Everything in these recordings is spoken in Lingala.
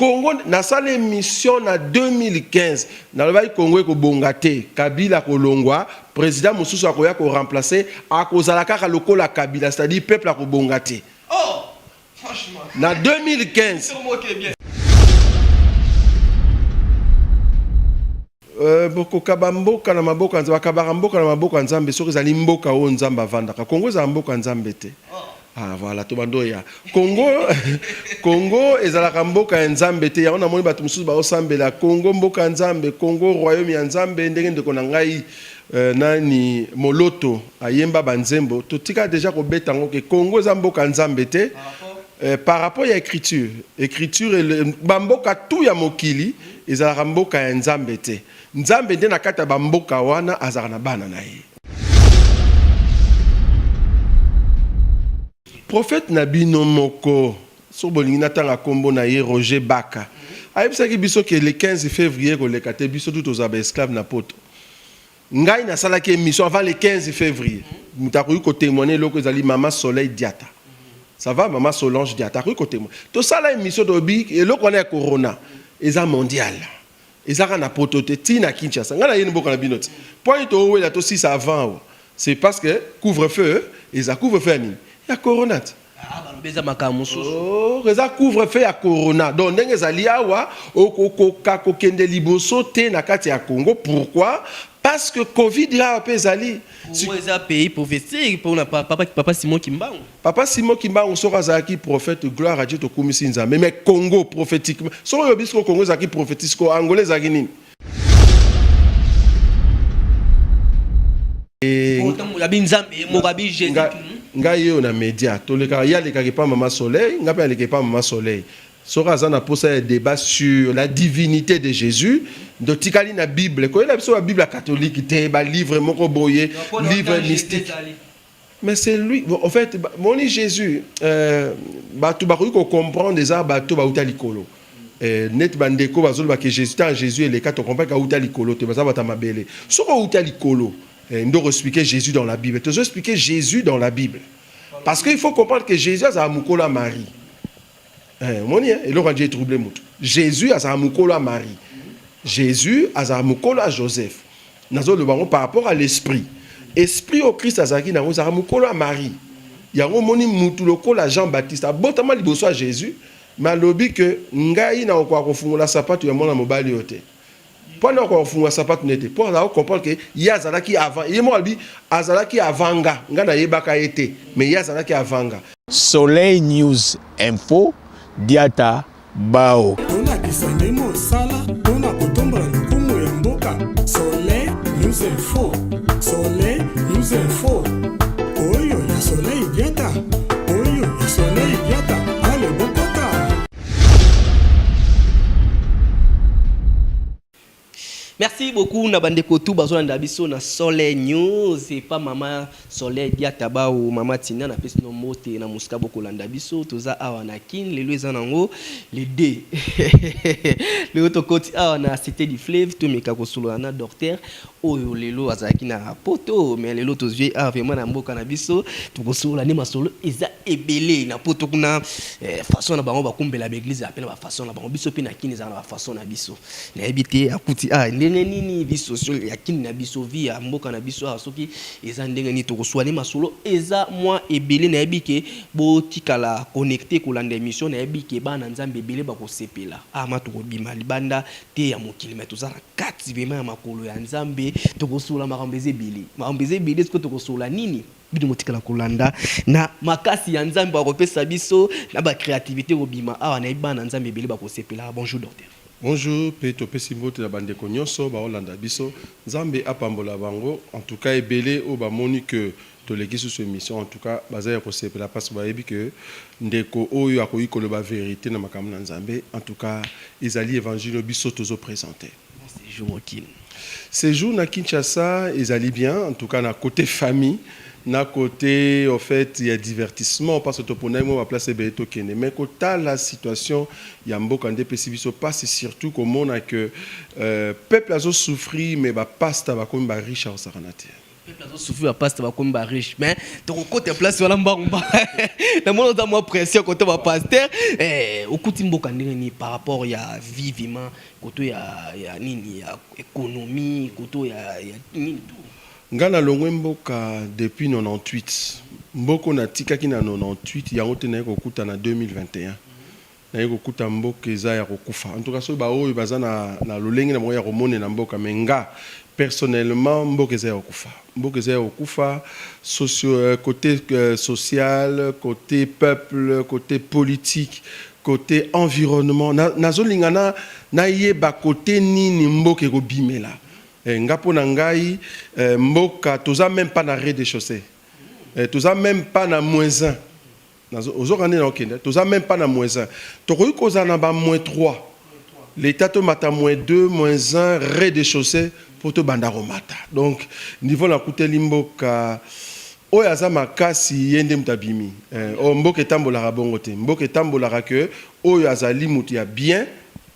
Congo nasala emission na 2015 nalobaki Congo ekobonga te, Kabila kolongwa, president mosusu akoya ko remplacer, akozala kaka lokola Kabila, c'est-à-dire peuple akobonga te. Oh, franchement. Na 2015. Euh, bokokaba mboka na maboko nzambe bakabaka mboka na maboko ya nzambe soki ezali mboka oyo nzambe avandaka kongo ezala mboka ya nzambe te ah, voilà tobando ya kongo kongo ezalaka mboka ya nzambe te yango namoni bato mosusu baosambela kongo mboka ya nzambe kongo royaume ya nzambe ndenge ndeko na ngai euh, nani moloto ayemba banzembo totika deja kobeta yango ke kongo eza mboka ya nzambe te ah, Eh, par rapport ya écriture écriture bamboka tout ya mokili ezalaka mboka ya nzambe te nzambe nde na kati ya bamboka wana azalaka na bana na ye profete na bino moko so bolingi natanga nkombo na ye roger baka ayebisaki biso ke le 15 février koleka te biso tu tozala baesclave na poto Ngai nasalaki emission avant le 15 fevrier. Moto akoki ko témoigner eloko ezali Mama Soleil Diata. Ça va Mama Solange Diata akoki ko témoigner. Tosala emission tobi eloko wana ya corona eza mondial. Ezaka na poto te ti na Kinshasa. Ngai nayeni mboka na bino ti. Point to wela to sisa avant. C'est parce que couvre-feu eza couvre-feu ya nini? Ya corona ti. Aah balobi eza makambo mosusu. Ooh eza couvre feu ya corona donc ndenge ezali awa okokoka kokende liboso te na kati ya Congo pourquoi parce que covid awa pe ezali. Congo eza pays prophetique pona papa papa Simon kimbangu. Papa Simon kimbangu soki azalaki prophète gloire à Dieu tokumisi Nzambe mais Congo prophetiquement soki olobi sikoyo Congo ezalaki prophetie sikoyo Angola ezalaki nini? ngai oyo na média tolekaka ye alekaka epa mama soleil ngai mpe aleka epa mama soleil soki aza na mposa ya débat sur la divinité de jésus ndotikali na bible koyela biso babible ya katholike te balivre moko boye livre mystique Mais c'est lui, au fait, moni Jésus, euh, batu bakoki ko comprendre eza bato bauta likolo. Euh, net bandeko bazoloba ke Jésus ta Jésus eleka to comprendre ka uta likolo te baza bata mabele. Soko uta likolo, euh, ndoko expliquer Jésus dans la Bible. Tozo expliquer Jésus dans la Bible. Parce qu'il faut comprendre que Jésus a mukolo à Marie. Eh, omoni eh, eloko anje etrouble moto jésus azala mokolo ya marie jésus azala mokolo ya joseph nazoloba yango par rapport à l'esprit esprit oyo krist azalaki na yango ezalaka mokolo ya marie yango omoni motu lokola jean baptiste abotama liboso ya jésus mais alobi ke ngai nakokoka kofungola sapato ya mwana mobali oyo te Mpo na kofungola sapato na ye te, mpo azala ko comprendre que ye azalaki avant ye moko alobi azalaki avant nga, nga na yebaka ye te mais ye azalaki avant nga. Soleil News info diata bao. Tolakisa nde mosala mpo na kotombola lokumu ya mboka Soleil News info Soleil News info Oyo ya Soleil Diata Oyo ya Soleil Diata Allez bokota. Merci beaucoup na bandeko tout bazolanda biso na Soleil News et pas maman Soleil Diata Bao maman Tina na pesi no mote na musika bokolanda biso toza awa na Kin lelo eza nango le 2 lelo tokoti awa na Cité du Fleuve tomeka kosolola na docteur Oyo lelo azalaki na poto mais lelo tozwi ye awa vraiment na mboka na biso tokosolola nde masolo eza ebele na poto kuna eh, façon na bango bakumbela ba eglise ape na ba façon na bango biso mpe na kini ezala na ba façon na biso nayebi te akuti a ah, ndenge nini vie sociale ya kini na biso vie ya mboka na biso awa soki eza ndenge nini tokosolola nde masolo eza mwa ebele nayebi ke botikala connecte kolanda emission nayebi ke bana nzambe ebele bakosepela ama ah, tokobima libanda te ya mokili mais toza na kati vraiment ya makolo ya nzambe tokosola makambo eza ebele makambo eza ebele sikoyo tokosola nini bino motikala kolanda na makasi ya nzambe akopesa biso na bacréativité kobima awa nayebi bana na nzambe ebele bakosepela bonjour docteur Bonjour mpe topesi mbote na bandeko nyonso baolanda biso, Nzambe apambola bango en tout cas ebele oyo bamoni que Toleki susu emission en tout cas baza ya kosepela parce bayebi que ndeko oyo akoki koloba verite na makambo na Nzambe en tout cas ezali evangile oyo biso tozo presente. Bon sejour au kin. Sejour na Kinshasa ezali bien en tout cas na cote famille na cote au fait ya divertissement parce toponaki mwa ba place ebele tokende mais kotala situation ya mboka nde epesi biso pasi surtout komona que euh, peuple azo souffrir mais ba pasta bakomi ba riche akosakanate. Peuple azo souffrir ba pasteur bakomi ba riche mais tokokota place wana mbangu mbangu na mona oza mwa pression kote ba pasteur eh, okuti mboka ndenge nini par rapport ya vie vima koto ya, ya nini ya économie koto ya, ya nini tout nga nalongwe mboka depuis 98 mboko natikaki na 98 yango te naye kokutana 2021 naye kokuta mboka eza ya kokufa en tout cas soki ba oyo baza na na lolenge na bango ya komonela mboka mais nga personnellement mboka eza ya kokufa mboka eza ya kokufa socio euh, cote euh, social cote peuple cote politique cote environnement na, nazolinga na nayeba cote nini mboka ekobimela eh, nga mpo na ngai eh, mboka toza meme pas na rez de chaussée eh, toza meme pas na moins 1 Nazo ozoka nde na okende toza meme pas na moins un tokoki kozala na ba moins trois l'etat tomata moins deux moins un rez de chaussee mpo tobanda komata donc niveau nakuteli mboka oyo aza makasi ye nde moto abimi eh, oh, mboka etambolaka bongo te mboka etambolaka que oyo azali moto ya bien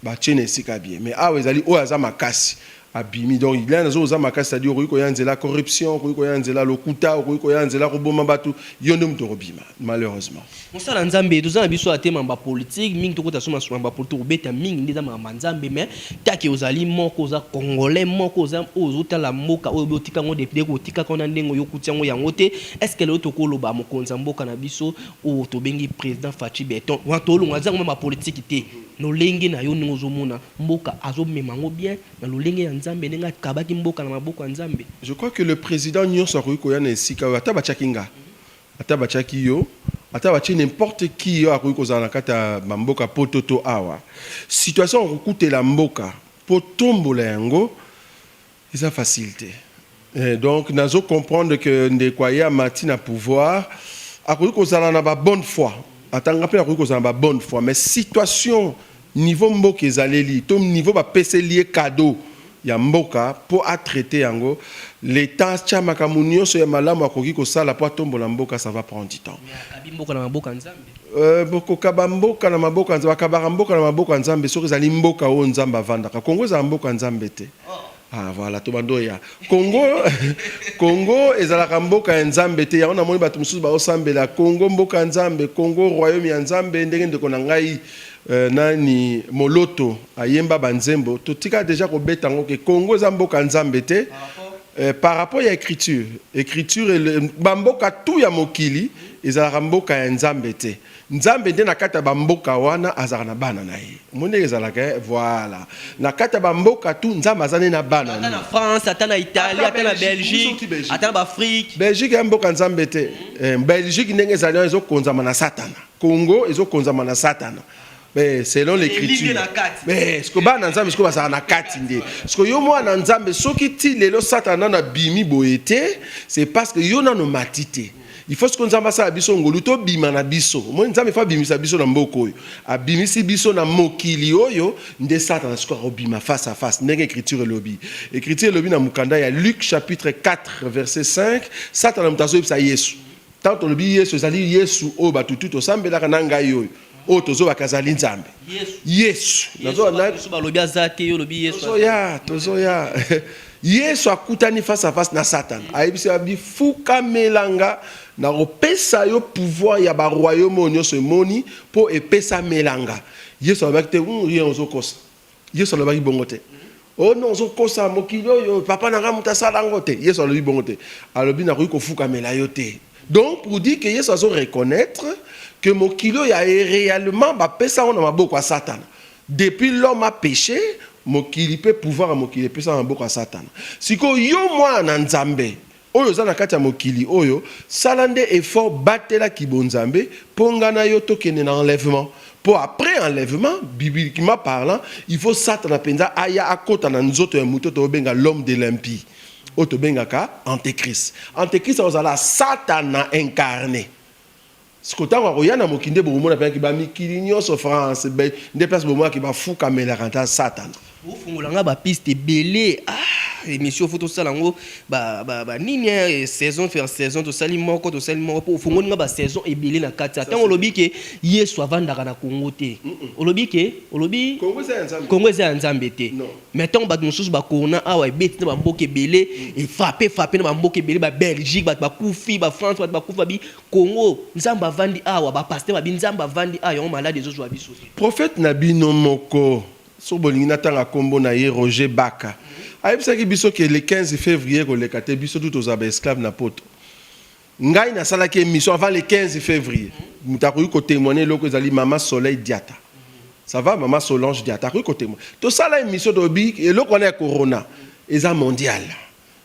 Batie na esika ya bien mais awa ezali oyo aza makasi abimi donc il nazo oza makasi c'est-à-dire okoki koya nzela corruption okoki koya nzela lokuta okoki koya nzela koboma batu yo nde moto okobima malheureusement mosala nzambe toza na biso ate mamba politique mingi tokota soma soma mamba politique kobeta mingi nde eza mamba nzambe mais take ozali moko oza congolais moko oza oyo ozotala mboka oyo botika yango depute kotika kona ndenge oyo okuti yango yango te est ce que lelo tokoloba mokonzi ya mboka na biso oyo tobengi président Fatshi Beton wana tolonga eza yango mamba politique te Lolenge nayo ndenge ozo mona mboka azo mema yango bien na lolenge ya nzambe ndenge akabaki mboka na maboko ya nzambe. Je crois que le president nionso akoki koya na esika oyo ata batiaki nga ata batiaki yo ata batie n'importe qui oyo akoki kozala na kati ya ba mboka poto to awa situation ya kokutela mboka po tombola yango Eza facile te eh, donc nazo comprendre que ndeko aye amati na pouvoir akoki kozala na ba bonne foi atanga mpe akoki kozala na ba bonne foi mais situation niveau mboka ezaleli to niveau bapeseli ye cadeau ya mboka mpo atraite yango leta atya makambo nyonso ya malamu akoki kosala mpo atombola mboka ça va prendre du temps akabi mboka na maboko ya nzambe Euh, bokokaba mboka na maboko ya nzambe akabaka mboka na maboko ya nzambe soki ezali mboka oyo nzambe avandaka kongo ezala mboka ya nzambe te Ah, voilà to bando ya Congo Congo ezalaka mboka ya Nzambe te yango namoni bato mosusu baosambela Congo mboka ya Nzambe Congo royaume ya Nzambe ndenge ndeko na ngai euh, nani moloto ayemba banzembo totika deja kobeta yango ke Congo eza mboka ya Nzambe te euh, par rapport ya écriture écriture bamboka tout ya mokili ezalaka mboka ya Nzambe te Nzambe nde na kati ya bamboka wana azalaka na bana na ye omoni ndenge ezalaka eh? voilà na kati ya bamboka tu nzambe aza nde na bana ata na france ata na italie ata na belgique ata na baafrike belgique ya mboka nzambe te eh, belgique ndenge ezali wana ezokonzama na satana congo ezokonzama na satana Mais selon l'écriture mais siko bana nzambe siko bazalaka na kati nde siko yo mwana nzambe soki ti lelo satana nano abimi boye te c'est parce que yo nano mati te il faut siko nzambe asala biso ngolu tobima na biso moi nzambe fo abimisa biso na mboka oyo abimisi biso na mokili oyo nde satana siko akobima face à face ndenge écriture elobi écriture elobi na mokanda ya luc chapitre 4 verset 5 satana moto azoyebisa yesu ntango tolobi yesu ezali yesu oyo bato tu tosambelaka na ngai oyo oyo tozobaka azali nzambe yesu balobi aza te yo lobi yesutozoya tozoya yesu akutani face à face na satana mm. ayebisi ya bifukamela nga na kopesa yo pouvoir ya baroyaume oyo nyonso emoni mpo epesamela nga yesu alobaki te rien ozokosa Yesu alobaki bongo te. Oh non, ozokosa mokili oyo papa na ngai moto asala yango te. Yesu alobi bongo te. Alobi nakoki kofukamela yo te. Donc pour dire que Yesu azo reconnaître que mokili oyo ya réellement bapesa yango na maboko ya Satana. Depuis l'homme a péché, mokili pe pouvoir ya mokili epesa na maboko ya Satana. Sikoyo yo mwana na Nzambe, Oyo oza na kati ya mokili oyo sala nde effort batela kibonzambe po nga na yo tokende na enlèvement po après enlèvement bibliquement parlant il faut satana penza aya akota na nzoto ya mutu oyo toko benga l'homme de l'impie oyo tobengaka antechrist antechrist akozala satana incarne Siko tango akoya na mokili nde bokomona mpenza ke ba mikili nyonso France be nde place bomona ke ba fukamelaka ata satana. Bofungola nga ba piste ebele ah emission faut tosala yango ba ba ba nini eh, saison vers saison tosali moko tosali moko po ofungoli nga ba saison ebele na kati Ça, tango c'est- olobi ke Yesu avandaka na Congo te olobi ke olobi Congo eza ya Nzambe. Congo eza ya Nzambe te Non. mais ntango bato mosusu bakona awa ebeti na bamboka ebele efrape frape na bamboka ebele ba belgique bato bakufi ba france bato bakufi babi Congo nzambe avandi awa ba pasteur babi nzambe avandi awa yango malade ezo zua biso. Prophète na bino moko soki bolingi natanga kombo na ye Roger Baka ayebisaki biso ke le 15 fevrier ekoleka te biso tout tozala ba esclave na poto ngai nasalaki emission avant le 15 fevrier mutu akoki ko temoigner eloko ezali mama Soleil Diata ça va mama Solange Diata akoki ko temoigner tosala emission tolobi eloko wana ya corona eza mondial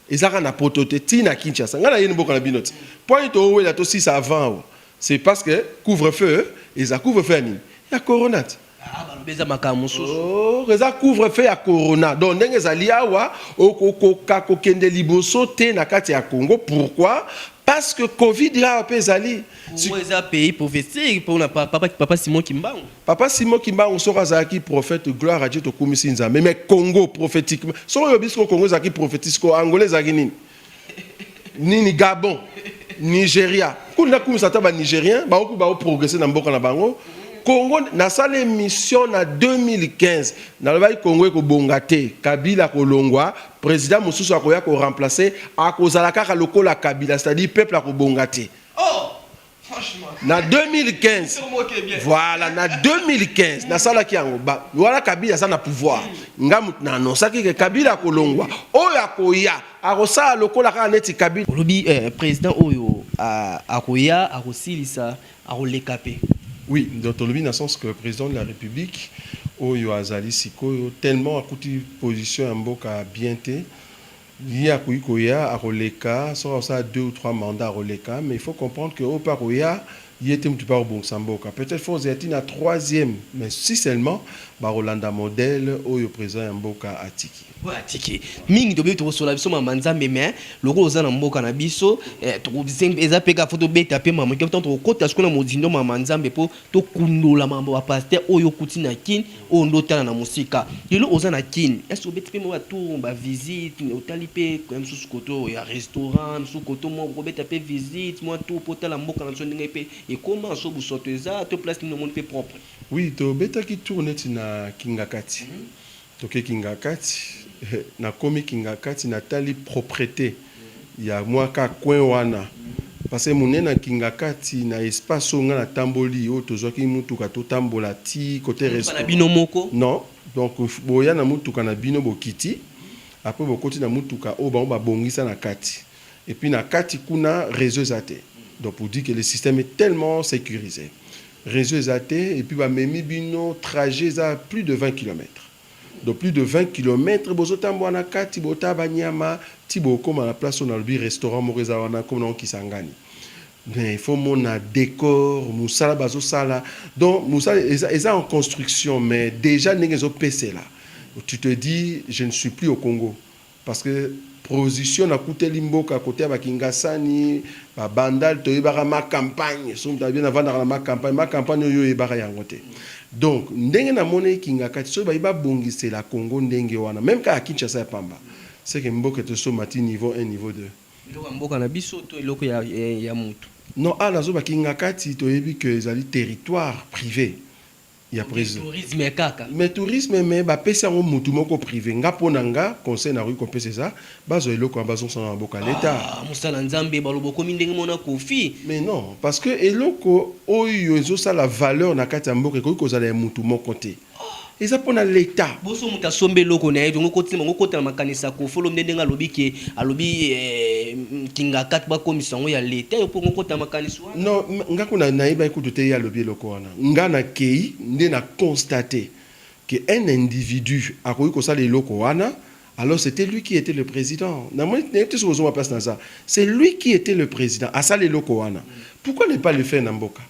Eza kaka na poto te, ti na Kinshasa. Nga naye mboka na bino te. Point to wela to sisa avant awa. C'est parce que couvre feu eza couvre feu ya nini? Ya corona te. Ah, balobi eza makambo mosusu. Oh, eza couvre feu ya corona. Donc ndenge ezali awa okokoka kokende liboso te na kati ya Congo. Pourquoi? Parce que Covid awa pe ezali. Congo eza pays prophetique pona papa papa Simon Kimbangu. Papa Simon kimbangu soki azalaki prophète gloire à Dieu tokumisi Nzambe mais Congo prophetiquement soki olobi siko Congo ezalaki prophétie siko Angola ezalaki nini nini Gabon Nigeria kuna nakumisa ata ba Nigeriens baoku bao progresser na mboka na bango Congo nasala émission na 2015 nalobaki Congo ekobonga te Kabila kolongwa président mosusu akoya ko remplacer akozala kaka lokola Kabila c'est-à-dire peuple akobonga te na 2015 voilà na 2015 nasalaki yango wana kabila aza na pouvoir nga moto na anonsaki ke kabila akolongwa oyo akoya akosala lokola kaka neti kabila olobi eh, président oyo akoya akosilisa akoleka mpe oui donc tolobi na sens que président de la république oyo azali sikoyo tellement akuti position ya mboka bien te Ye akoki koya akoleka soki akosala deux ou trois mandats akoleka mais il faut comprendre que oyo pe akoya ye te mutu pe akobongisa mboka peut etre faut kozela ti na troisième mais si seulement bakolanda modèle oyo president ya mboka atiki. Oyo atiki mingi tobebi tokosola biso mama nzambe mais lokola oza na mboka na biso eh, tokosenga eza pe kaka faut tobeta pe mama tango tokokota sikoyo na mozindo mama nzambe po Tokundola makambo ba pasteur oyo okuti na kin oyo nde otala na mosika lelo oza na kin est-ce obeti mpe mwa ba tour ba visite otali mpe ya mosusu koto ya restaurant mosusu koto mwa kobeta mpe visite mwa tour mpo otala mboka na biso ndenge mpe ekoma so busoto eza to place nini omoni mpe propre. Oui tobetaki tour neti na kingakati. Toke kingakati nakomi kingakati natali proprete ya mua ka coin wana parce munene ya kingakati na espace oyo nga na tamboli oyo tozuaki mutuka totambola ti cote restaurant non donc boya na mutuka na bino bokiti apres bokoti na mutuka oyo bango babongisa na kati Et puis na kati kuna reseau eza te donc pour dire que le système est tellement securise reseau eza te et puis ba memi bino trajet eza plus de 20 kilomètre donc plus de 20 kilomètre bozo tambua na kati botala ba nyama ti bokoma na place oyo na lobi restaurant moko eza wana kombo nango Kisangani mais faut mona decor musala bazo sala donc musala eza, eza en construction mais dejà ndenge ezo pesela tu te dis je ne suis plus au Congo Parce que prosition na kuteli mboka kote ya ba kingasani ba bandal toyebaka ma campagne soki moto alobi na vandaka na ma campagne ma campagne oyo oyebaka yango te donc ndenge na moni kingakati soki bayi ba bongisela congo ndenge wana meme kaka kinshasa ya pamba seke mboka eto somba ti niveau un niveau deux eloko ya mboka na biso to eloko ya ya mutu non awa nazo ba kingakati toyebi que ezali territoire prive ya president mais tourisme kaka mais tourisme mais ba pesi yango mutu moko prive nga pona nga conseil na koki kopesa eza bazwa eloko wana bazongisa na maboko ya l'etat ah musala nzambe baloba okomi ndenge mona kofi mais non parce que eloko oyo ezo sala valeur na kati ya mboka ekoki kozala ya mutu moko te eza pona l'etat boso mutu asombe eloko na ye tongo koti bango kota na makanisa ya kofi olomide ndenge alobi ke alobi eh, kingakati bakomisa yango ya l'etat yo mpo ngokota na makanisi wana non nga kuna nayebaki kutu te ye alobi eloko wana Nga na keyi nde na constate que un individu akoki kosala eloko wana alors c'etait lui qui etait le president namoni nayebi te soki ozomona place naza c'est lui qui etait le president asala eloko wana pourquoi ne pas le faire na mboka?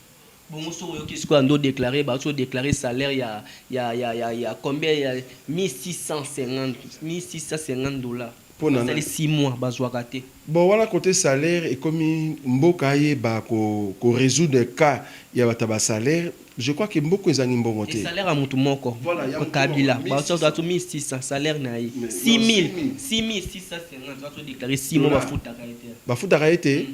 Bongo soki oyoki sikoyo ande o declare bauti ko declare salaire ya ya ya ya ya combien ya 1650 1650 dollars. Po na nani? Basali six mois bazwaka te. Bon wana cote salaire ekomi mboka ayeba ko resoudre cas ya bato ya ba salaire je crois que mboka ezangi mbongo te. Salaire ya mutu moko kabila bazo zwa 1600 salaire na ye 6000 6650 azo declare 6 mois bafutaka ye te bafutaka ye te.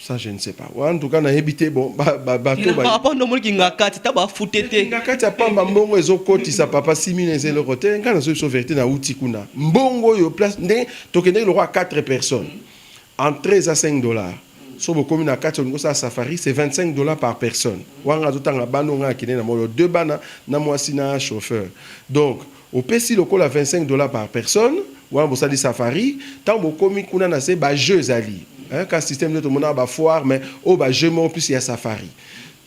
Ça, je ne sais pas. Ouais, en tout cas, nayebi te bon ba ba ba to ba. Papa ndo moli kinga kati ta ba fute te. Kinga kati ya pamba mbongo ezo koti sa papa 6000 eze loko te. Nga na so so verite na uti kuna. Mbongo yo place nde to kende loko 4 personnes. Entrée à 5 dollars. So bokomi na kati olingo sa safari c'est 25 dollars par personne. Wanga zo tanga bano nga kine na molo deux bana na mwasi na chauffeur. Donc Opesi lokola 25 dollars par personne, wana bosali safari, tango bokomi kuna na se ba jeux ezali hein, ka système nde tomonaka ba foire mais oyo ba jeux moko plus ya safari.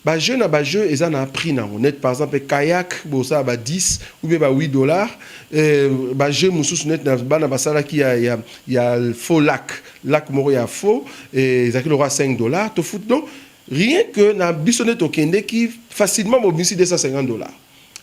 Ba jeux na ba jeux eza na prix nango neti par exemple kayak bosala ba 10 ou bien ba 8 dollars eh, ba jeux mususu neti na bana basalaki ya, ya, ya faux lac, lac moko ya faux eh, ezalaki lokola 5 dollars, tofuti donc rien que na biso nde tokendeki facilement bobimisi 250 dollars.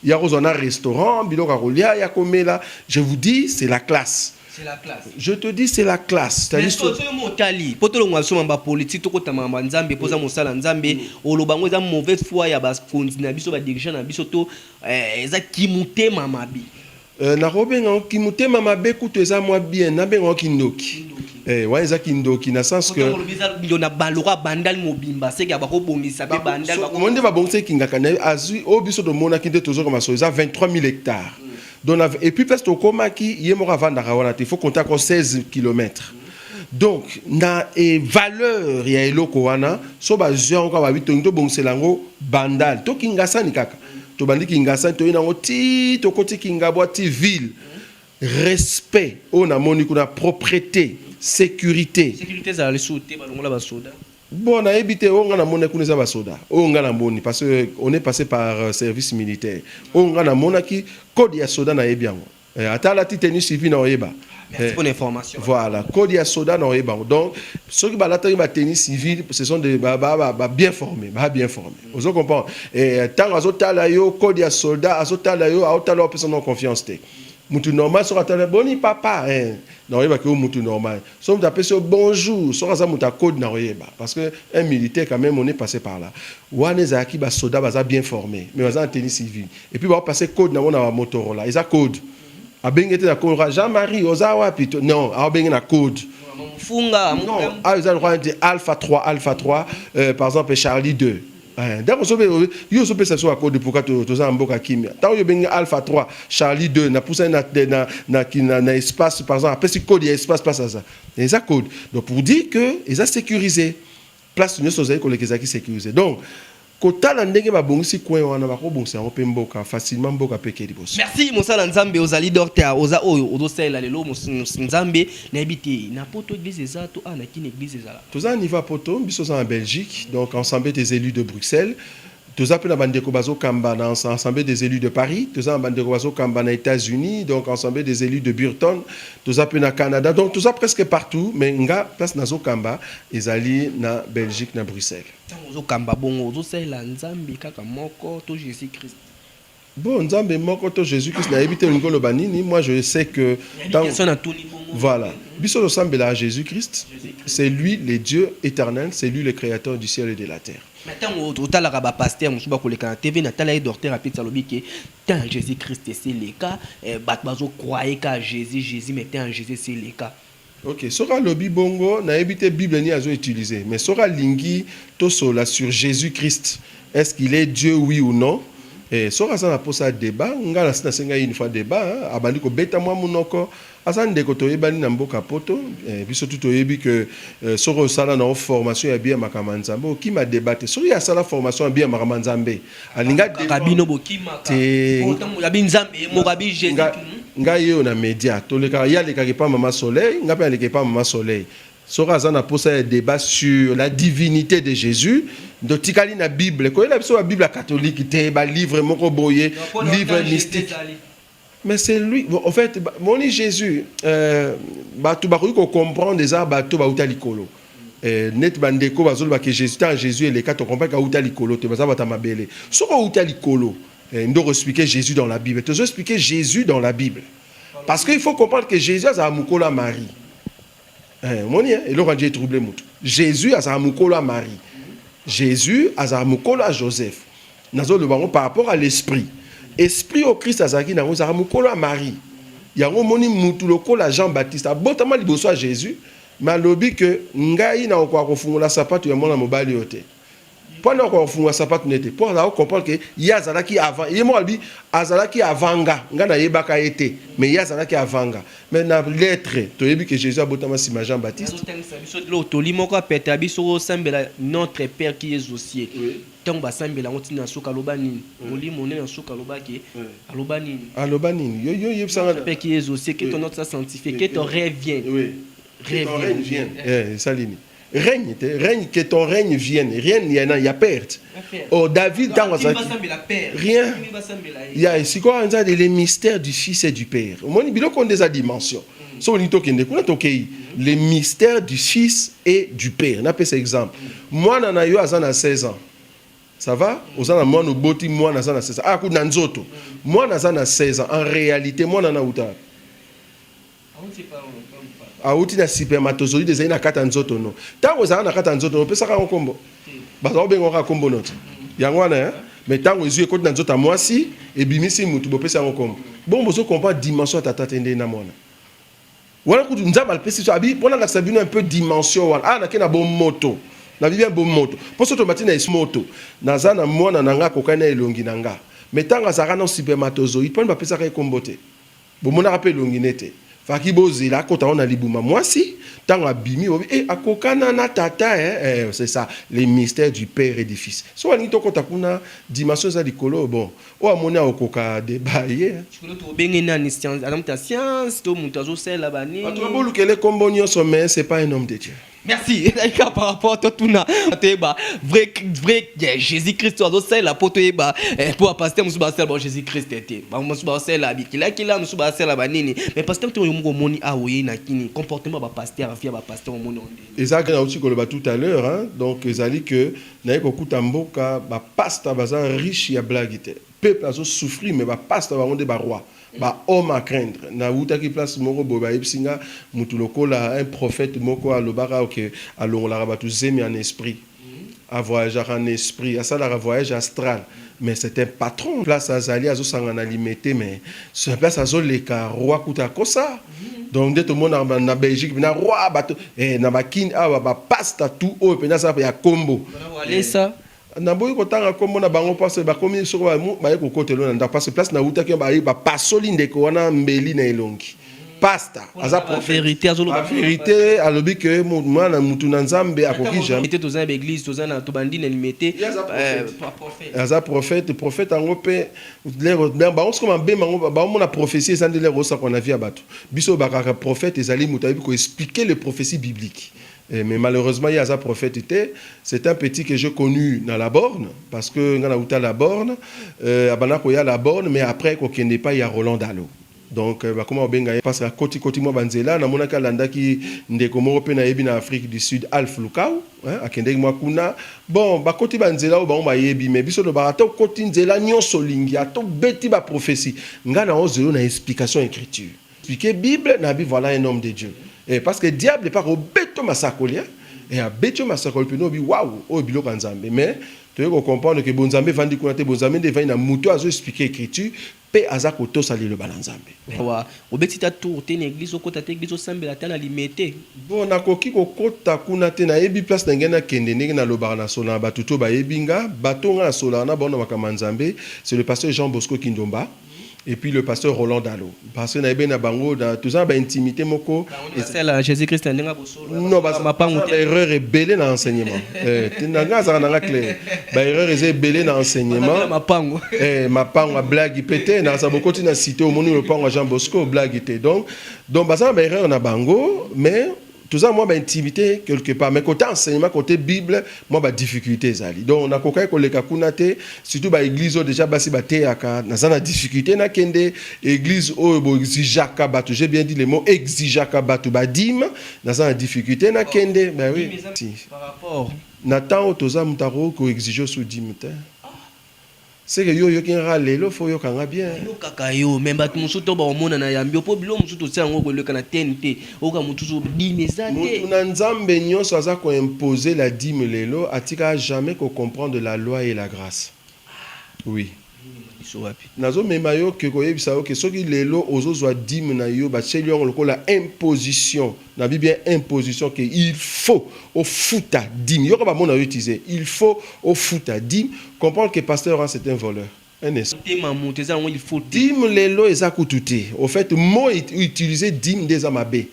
ya kozwa na restaurant biloko ya kolia ya komela je vous dis c'est la classe C'est la classe. je te dis c'est la classe Mais C'est-à-dire soki oyo motali mpo tolongwa biso mamba politiki tokota mamba nzambe mpo oza mosala nzambe oloba yango eza mauvaise foi ya bakonzi na biso badirigeant na biso to eh, eza kimotema mabe Eh nakobenga ngo kimutema mabe kutu eza mwa bien nabenga ngo kindoki eh wana eza kindoki na sens que ndo na baloka bandal mobimba seke bakobongisa pe bandal bako nde babongisa kingaka na azwi oyo biso tomonaki nde tozoka maso eza 23000 hectares mm. donc et puis place tokomaki ye moko avandaka wana te faut compter encore 16 kilomètres donc na e valeur ya eloko wana so bazwi yango kaka babi tongi tobongisela yango bandal to kingasani kaka tobandi kingasani toyei nango ti tokoti kingabwa ti ville respect oyo namoni kuna propreté sécurité sécurité ezala lisusu te balongola basoda bon nayebi te oyo ngai namoni kuna eza basoda oyo ngai namoni parce que on est passé par euh, service militaire oyo ngai namonaki code ya soda nayebi yango Eh, ata alati tenue civile na oyeba Merci eh, pour l'information. Voilà, code ya soda na oyeba. Donc ceux qui balataki ba tenue civile, ce sont des ba, ba, ba, ba bien formés, ba bien formés. Mm. Vous comprenez Et eh, tant azo tala yo code ya soldat, azo tala yo, azo tala personne en confiance te. Mutu normal sera tala boni papa hein. Na oyeba que mutu normal. soki moto apesi yo bonjour soki aza moto ya code na koyeba parce que un militaire quand même on est passé par là wana ezalaki basoda baza bien formé mais baza na tenue civile et puis baopase code nango na bamotorola eza code abenge te na code jean marie oza wapi to non aobenge na code mfunga ayo eza lokola neti alpha 3 alpha 3 euh, par exemple charlie 2 Eeh Daco soki pe oye yo ozo pesa soi accord de pourquoi to toza na mboka kimia tango yo obengi alpha 3 Charlie 2 na pusa ye na na na ki na na espace par exemple apesi code ya espace place aza eza code donc pour dire que eza securise place nioso ozali koleka ezalaki securise donc kotala ndenge ba bongisi coin wana bako bongisa yango pe mboka facilement mboka pe eke liboso. Merci mosala nzambe ozali dorter oza oyo ozo salela lelo mos mos nzambe nayebi te na poto eglise eza to awa na kin eglise ezala. Toza na niveau ya poto biso toza na Belgique donc ensemble des elus de Bruxelles toza pe na ba ndeko bazo kamba na ensemble des elus de Paris toza na ba ndeko bazo kamba na Etats Unis donc ensemble des elus de Burton toza pe na Canada donc toza presque partout mais nga place nazo kamba ezali na Belgique na Bruxelles. Tango ozo kamba bongo ozo salela nzambe kaka moko to Jesus Christ? Bon nzambe moko to Jesus Christ nayebi te olingi oloba nini moi je sais que voilà biso tosambelaka Jesus Christ c'est lui le Dieu éternel c'est lui le créateur du ciel et de la terre na ntango otalaka bapaster mosusu bakoleka na tv natala ye dorter apeti alobi ke te en jésus christ esileka eh, bato bazokroye ka jésus jésus mais te en jésus esileka Ok soki alobi bongo nayebi te bible nini azo utilise mais soki alingi tosolola sur Jesus Christ est ce qu'il est Dieu oui ou non eh, soki aza na posa ya debat nga nasi nasengai une fois debat hein, abandi kobeta mwa munoko aza ndeko toyebani na mboka poto eh, biso tu toyebi que eh, soki osala na yo formation ya bien makambo ya Nzambe okima debat te soki ye asala formation ya bien makambo ya Nzambe alinga kaka bino bokima te ya bi nzambe ye moko abi jesus ngai yeyo na media tolekaka ye alekaka epa mama soleil ngai mpe aleka epa mama soleil soki aza na mposa ya débat sur la divinité de jésus ndo tikali na bible koyela biso babible ya katolike te balivre moko boye livre mystique Mais c'est lui, au fait, moni Jésus, euh, batu bakoki ko comprendre eza bato bauta likolo. Euh, net bandeko bazoloba ke Jésus ta Jésus eleka to comprendre ka uta likolo te baza bata mabele. Soko uta likolo, euh, ndoko expliquer Jésus dans la Bible. Tozo expliquer Jésus dans la Bible. Parce qu'il faut comprendre que Jésus a mukolo à Marie. Eh, omoni eh, eloko anje etrouble motu jésus azala mokolo ya marie jésus azala mokolo ya joseph nazoloba yango par rapport à l'esprit esprit oyo krist azalaki na yango ezalaka mokolo ya marie yango omoni mutu lokola jean baptiste abotama liboso ya jésus mais alobi ke ngai nakokoka kofungola sapato ya mwana mobali oyo te Mpo na kofungola sapato na ye te, mpo azala ko comprendre que ye azalaki avant ye moko alobi azalaki avant nga, nga nayebaka ye te mais ye azalaki avant nga. Mais na lettre toyebi que Jesus abotama nsima ya Jean Baptiste. Azo tangisa biso eloko toli moko ya pete ya biso ko sambela notre père qui est aux cieux tango ba sambela yango ti na suka aloba nini? Molimo nde na suka aloba ke aloba nini? Aloba nini? Yo yo yebisa nga. Notre père qui est aux cieux que ton nom soit sanctifier que ton règne vienne. Oui que ton règne vienne. Eh esali nini? règne te règne que ton règne vienne rien ya na ya perte oh David ntango azalaki rien ya sikoyo anza les mystères du fils et du père omoni biloko nde eza dimension mm. so olingi tokende kuna tokei mm. les mystères du fils et du père napesa exemple mm. mwana na yo aza na 16 ans ça va oza na mwana oboti mwana aza na 16 ans aya ah, kutu na nzoto mwana aza na 16 ans en réalité mwana na uta awuti na spermatozoïde ezali na kati ya nzoto no ntango ezala na kati ya nzoto no opesaka yango nkombo baza kobenga kaka nkombo no te yango wana eh? mais ntango ezwi ekoti na nzoto ya mwasi ebimisi motu bopesi yango nkombo bongo bozo comprendre dimension ya tata te nde na mwana wana kutu nzambe alipesi biso abi mpo nalakisa bino un peu dimension wana awa ah, nake na bomoto na bibia bomoto mpo soki tomati na esmoto naza na mwana na nga akokani na elongi na nga mais ntango azalaka na supermatozoïde mpani bapesaka ye nkombo te Bomonaka pe elongi ne te. Faki bozela akota ngo na libuma muasi tango abimi bobi eh akokana na tata eh eh c'est ça les mystères du père et du fils soki alingi tokota kuna dimension eza likolo bon oyo amoni akokoka debat ye hein. Chikolotu obenge nani science aza mutu ya science to mutu azo sala ba nini? Bato babolukele kombo nionso mais c'est pas un homme de Dieu. merci ezali kaka par rapport totuna toyeba vrai vrai eh, jésus christ oyo azosalela mpo toyeba eh, mpo bapaster mosusu basala bango jésus christ te bango mosusu basalela bikilakila mosusu basala banini mais paster ntango yo moko omoni awa oyei na kini comportement ya bapaster vie ya bapaster omoni yango ndenge eza kaka nauti koloba tout à l'heure hein. donc ezali que naye kokuta mboka bapasta baza riche ya blague te Peuple azo souffrir mais ba pasta bango nde ba roi ba homme à craindre na wutaki place moko boye ba yebisi nga mutu lokola un prophète moko alobaka que alongolaka batu zemi en esprit a voyagaka en esprit asalaka voyage astral mais c'est un patron place azali azo sangana limete mais sur place azo leka roi kutu akosa donc nde tomonaka na Belgique pena roi batu eh na ba kin awa ba pasta tout oyo pena aza ya kombo. Walesa Naboyi kotanga kombo na bango parce que bakomi esika oyo baye kokotela oyo na ndako parce que place nawutaki baye bapasoli ndeko wana mbeli na elongi. Pasta aza prophète ba verite alobi que mwana mutu na Nzambe akoki jamais. Toza na ba eglise toza na tobandi na limete aza prophète prophète yango mpe lero bango sikoyo mabe bango baomona prophetie eza nde lero osakwa na vie ya bato biso oyo bakaka prophète ezali moto ayebi ko expliquer les propheties bibliques Eh mais malheureusement ye aza prophète te c'est un petit que j'ai connu na la borne parce que nga na uta la borne euh, abanda koya la borne mais après ko kende epai ya Roland Dalo donc euh, bakoma kobenga ye parce que akoti koti mwa banzela namonaki alandaki ndeko moko mpe nayebi na Afrique du Sud Alf Lukau hein, akendeki mwa kuna bon bakoti banzela oyo bango bayebi mais biso tobaka ata okoti nzela nyonso olingi ata obeti baprophesie nga na ozelo na explication écriture Expliquer bible na bi voilà un homme de Dieu eh, parce que diable epa kobeto masakoli hein eh, abeti yo masakoli pene obi wawu oyo biloko ya nzambe mais toye ko comprendre que bonzambe evandi kuna te bonzambe nde evandi na mutu azo expliquer ecriture pe aza kotosa liloba na nzambe. Awa obeti ta tour te na eglise okota te eglise osambela ata na limete. Bon na koki kokota kuna te na yebi place na ngai na kende ndenge na lobaka na solana batu to bayebi nga bato nga na solaka na bango na makambo ya nzambe c'est le pasteur jean bosco kindomba. Et puis le pasteur Roland Dalo, parce que na ebe na bango na toza na ba intimité moko et c'est la Jésus Christ ndinga bosolo non ba ma pangu te erreur est belé na enseignement eh tinanga za na clair ba erreur est belé na enseignement ma pangu eh ma pangu a blague pété na sa bokoti na cité au moni le pangu Jean Bosco blague te donc donc ba ça ba erreur na bango mais toza mwa ba intimité quelque part mais côté enseignement côté bible mwa ba difficulté ezali donc nakokaki koleka kuna te surtout ba église oyo déjà basi bateyaka naza na difficulté nakende église oyo boexijaka bato j'ai bien dit le mot exijaka bato badime naza na difficulté nakende ben oui si. par rapport na ntango toza moto akoki koexige osu dime te Seke yo oyoki nga kaka lelo faut oyoka nga bien. Na yokaka yo mais batu mususu to bako mona na yambi yo po biloko mususu to tia yango ko leka na tnt oyoka mutu so dime eza te. Mutu na nzambe nioso aza ko imposer la dime lelo atikaka jamais ko comprendre la loi et la grace oui nazo mema yo ke ko yebisa yo ke soki lelo ozo zua dime na yo ba tieli yo yango lokola imposition na bi bien imposition que il faut au futa dîme yoko ba mona utilisé il faut au futa dîme comprendre que pasteur hein, c'est un voleur un esprit tema moto eza yango il faut dîme lelo eza kutu te au fait mot utilisé dîme des mabe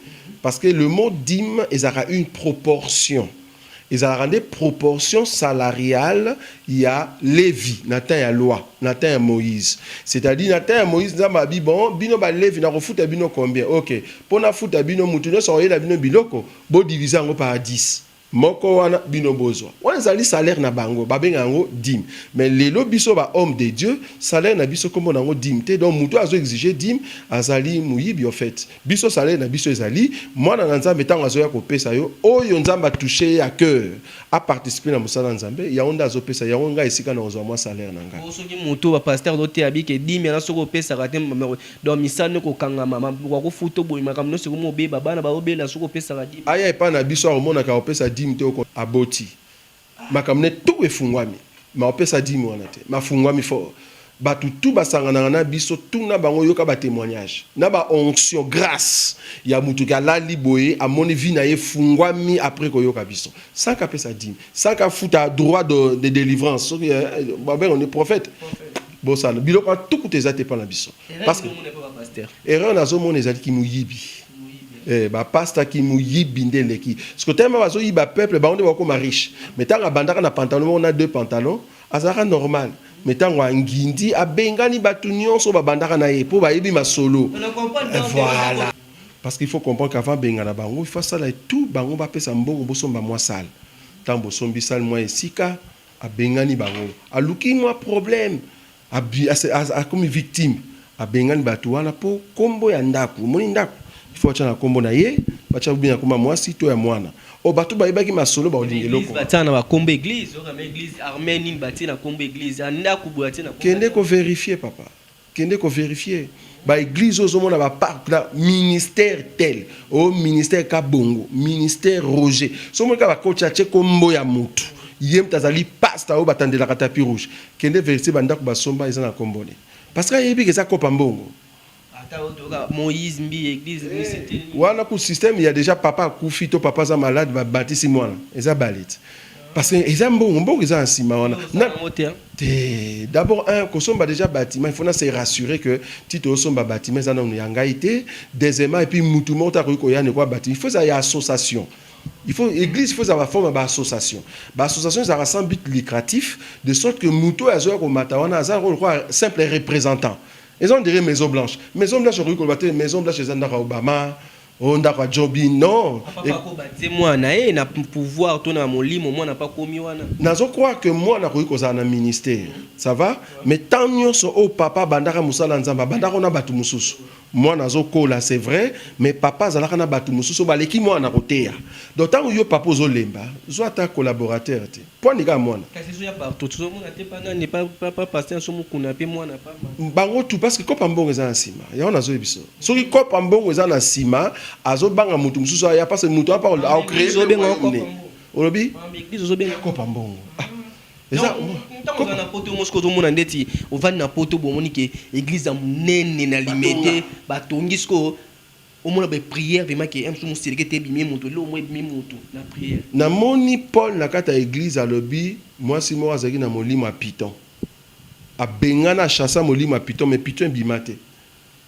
parce que le mot dîme ezaka une proportion Ezalaka nde proportion salariale ya Levi na temps ya loi, na temps ya Moïse. C'est à dire na temps ya Moïse Nzambe alobi bon bino ba Levi nakofuta bino combien? Ok po nafuta bino mutu nionso akoyela bino biloko bo diviser yango par 10 moko wana bino bozwa. Wana ezali salaire na bango babenga yango dime. Mais lelo biso ba homme de Dieu salaire na biso kombo na yango dime te donc mutu azo exige dime azali moyibi au faite. Biso salaire na biso ezali mwana na nzambe tango azoya kopesa yo oyo nzambe a touche ye a cœur a participer na mosala ya nzambe yango nde azo pesa yango ngai esika nako zua mwa salaire na ngai. Bongo soki mutu ba pasteur azo teya bi ke dime na soki opesaka te donc misala no eko kangama ma ba ko futo boye makambo nionso eko mo beba bana bazo bela soki opesaka dime te. Aya epa na biso ako mona ke ako pesa dime te oko aboti Makambo ne tout efungwami mais opesa dime wana te mafungwami fort batu tout basanganaka na biso tuna bango yoka ba temoignage na ba onction grace ya mutu ke alali boye amoni vie na ye efungwami apres koyoka biso sans ke apesa dime sans ke afuta droit de, de delivrance soki eh, babenga ni prophète bosana biloko ya tout kutu eza te epa na biso parce que erreur nazomona ezali kimoyibi Eh, ba pasta ki muyibi nde eleki siko tellement bazo yiba peuple bango nde bakoma riche mais tango abandaka na pantalon moko na deux pantalon azalaka normal mais tango angindi abengani bato nyonso babandaka na ye mpo bayebi masolo eh, voilà parce qu'il faut comprendre qu'avant bengana bango il faut asala tout bango bapesa mbongo bosomba mwa sale ntango bosombi sale mwa esika abengani bango aluki mwa problème Akomi victime abengani batu wana po kombo ya ndaku omoni ndaku il faut atia na kombo na ye batia ou bien ya kombo ya muasi to ya muana oh batu bayebaki masolo bakolinga eloko wana batia na ba kombo ya eglise oyo kama eglise armee nini batie na kombo ya eglise ya ndaku boye atie na kombo ya kende ko verifier papa kende ko verifier ba eglise oyo ozomona ba parc na ministère tel oh ministère kabongo ministère roger soki omoni kaka ba coach atie kombo ya mutu ye mutu azali pasta oyo batandelaka tapis rouge Kende verifie ba ndaku ba somba eza na kombo ne pasteur ayebi ke eza kopa mbongo. Ata oyo toyoka Moïse mbiye eglise ebimisi te. Wana kutu système ya dejà papa akufi to papa aza malade ba batisi mwana eza baleti parce que eza mbongo mbongo eza na sima wana na te d'abord un kosomba dejà bâtiment il faut na se rassurer que ti tosomba bâtiment eza nanu ya ngai te deuxièmement et puis mutu moko te akoki koya ne ko abati il faut eza ya association Il faut eglise faut ezala forme ba association. Ba association ezala sans but lucratif de sorte que mutu oyo azoya ko mata wana aza ko lokola simple representant. Eza on dirait maison blanche. Maison blanche okoki koloba te maison blanche eza ndako ya Obama, oh ndako ya Jobin. Non. Ah, papa e... ko batie mwana ye eh, na pouvoir to na molimo mwana pa komi wana. Nazo croire que mwana koki kozala na ministère. Ça va? Mais tant nyonso o papa bandaka musala nzamba bandaka na batu mususu. Mwana azo kola c'est vrai mais papa azalaka na batu mususu oyo baleki mwana na koteya donc tango yo papa ozo lemba zua ata collaborateur te po anika ya mwana. Kasi ezoya partout tozo mona te pa nani pa pa pasteur nabiso mukuna pe mwana pamba. Bango tout parce que coop ya mbongo eza na sima yango nazo yebisa yo soki coop ya mbongo eza na sima azo banga mutu mususu aya parce que mutu wana pe ako creer pe moyen nini olobi coop ya mbongo ah. Eza tango oza na poto yo moko ozomona ndeti ovandi na poto bo omoni ke eglise ya monene na limete batongi sikoyo omona ba prière vraiment ke msu moseleke te ebimi moto eloko moko ebimi moto na prière. Namoni Paul na kati ya eglise alobi mwasi moko azalaki na molimo ya python abengana achassa molimo ya python mais python ebima te.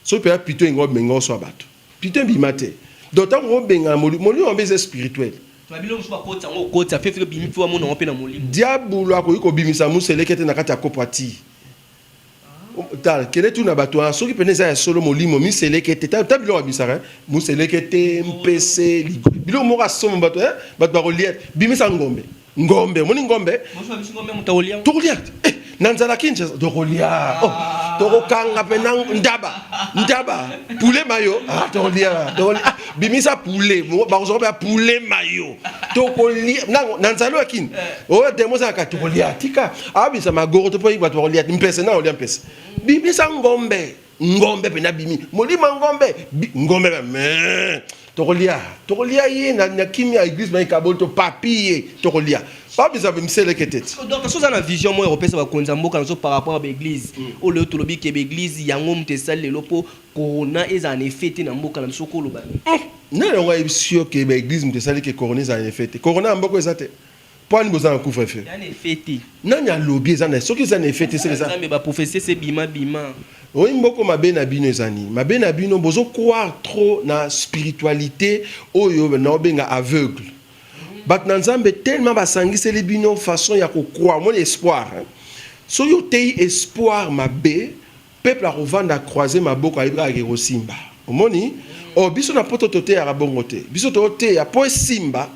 Soki pena pito ingo benga oso ya bato. Pito ebima te. Donc tango ko benga moli moli yango eza spirituel. Na biloko mosusu bakoti yango okoti ya fefele obimi mpe wamona yango mpe na molimo. Diabulu akoki kobimisa muselekete na kati ya kopo ya tii. Tala, kende tu na bato wana soki pena eza ya solo molimo miselekete ta ta biloko abisaka eh? muselekete mpese biloko moko asoma bato eh? bato bakolia bimisa ngombe ngombe omoni ngombe tokolia eh, na nzala kinshasa tokolia ah. oh, tokokanga mpe na ndaba ndaba pule mayo ah, tokolia ah, bimisa pule bakozwa baya pule mayo tokolia na nzali oyo akini eh. oyo demo ezalaka tokolia tika abisa magoro to mpo bato bakolia mpese na olia mpese bimisa ngombe ngombe mpe nabimi molimo ya ngombe ngombe me tokolia tokolia ye na, na kimia eglise mai kaboli to papi ye tokolia babisa miseleke te donc soza na vision moko ekopesa bakonzi ya mboka nazo par rapport ya baeglise mm. oyo lelo tolobi ke baeglise yango moto esali lelo mpo corona ezala na effet te na mboka na biso koloba mm. nani yango ayebisi yo ke baeglise moto esali ke corona ezala na effet te corona ya mboka eza te Mpo ani boza na couvre feu? Eza na effet te. Nani alobi eza na soki eza na effet te seke eza. Nzambe ba prophetie se bima bima. Oyi mboko mabe na bino eza nini? Mabe na bino bozo croire trop na spiritualite oyo na obenga aveugle. Bato na Nzambe tellement basangiseli bino façon ya ko croire, moni espoir. Soki oteyi espoir mabe, Peuple akovanda a croiser maboko ayebi kaka ke kosimba. Omoni? Oh biso na poto toteyaka bongo te. Biso toteya po esimba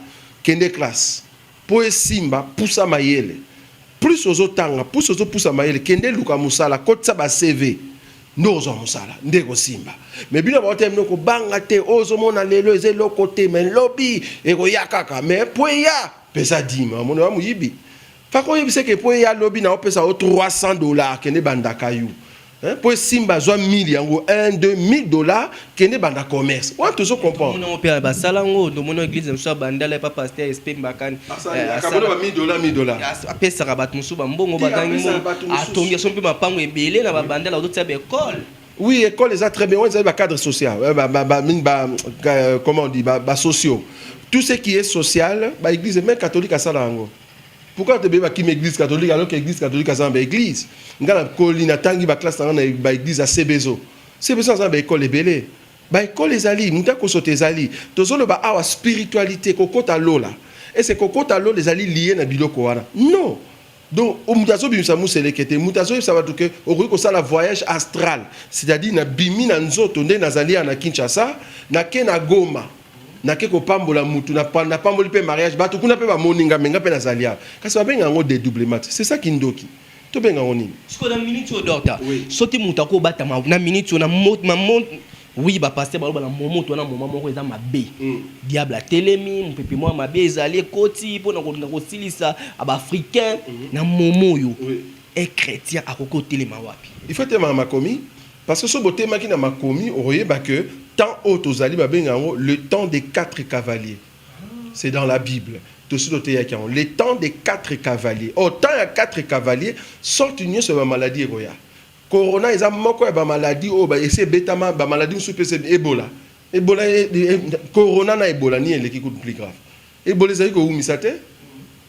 kende classe. Po esimba pusa mayele. Plus ozo tanga, plus ozo pusa mayele kende luka musala kotisa ba CV nde okozwa musala nde ekosimba. Mais bino ba oteya bino kobanga te oyo ozo mona lelo eza eloko te mais lobi ekoya kaka mais po eya pesa dime. Omoni oza moyibi. Kaka oyebisa ke po ya lobi na opesa o 300 dollars kende banda kayu. Hein, po simba zwa 1000 yango 1 2 1000 dollars kende banda commerce. Wana tozo comprendre. Mona opera basala ngo ndo mona église mosusu ya bandala pa pasteur SP Mbakani. Asala kabona ba 1000 dollars 1000 dollars. Apesaka bato mosusu ba mbongo bagangi mbongo. Atongi aso mpe mapango ebele na ba bandala ozotia ba école. Oui, école eza très bien. On est cadre social. Ba, ba, ba, ba, comment on dit, ba, ba sociaux. Tout ce qui est social, ba église, même catholique, à ça, là, Pourquoi te beba kim église catholique alors que église catholique azana ba église nga na koli na tangi ba classe na ba église à CBZO CBZO azana ba école ebele ba école ezali muta kosota ezali tozolo ba awa spiritualité kokota lola et c'est kokota lola ezali lié na biloko wana non donc mutu azobimisa museleke te mutu azoyebisa bato ke okoki kosala voyage astral c'est-à-dire na bimi na nzoto nde nazali ya na kinshasa nake na goma nake kopambola mutu na napamboli pe mariage batu kuna pe bamoni nga me nga pe nazali awa kasi babenga yango dedoublement te c'est ça kindoki tobenga yango nini sikoyo na minute oyo docteur oui. soki mutu akobatama na minute oyo na mot na mot oui bapaster baloba na momoto wana moma moko eza mabe mm. diable atelemi mopepe mwa mabe ezali ekoti mpo na kolinga kosilisa baafricain mm -hmm. na momo oyo oui. e chrétien akoki kotelema wapi ifo etelemaka makomi Parce que soki botelemaki na makomi okoyeba que temps oyo tozali babenga yango le temps des quatre cavaliers c'est dans la bible tosi toteyaki yango le temps des quatre cavaliers or temps ya quatre cavaliers sorte nionso ya ba maladie ekoya corona eza moko ya ba maladie oyo ba esi ebetama ba maladie mosusu pe ebola ebola corona na ebola nini eleki kutu plus grave Ebola ezali kowumisa te.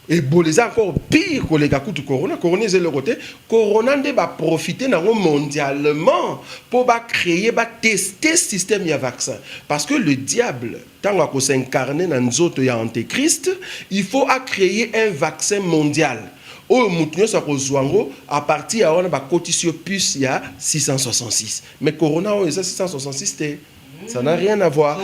Ebola eza encore pire koleka kutu corona. Corona eza eloko te. Corona nde ba profiter nango mondialement po ba creer, ba tester système ya vaccin. Parce que le diable tango ako s'incarner na nzoto ya antichrist, il faut a creer un vaccin mondial oyo mutu nionso akozua yango. A partir ya wana bakotisi yo puce ya 666. Mais corona oyo eza 666 te. Ça n'a rien à voir.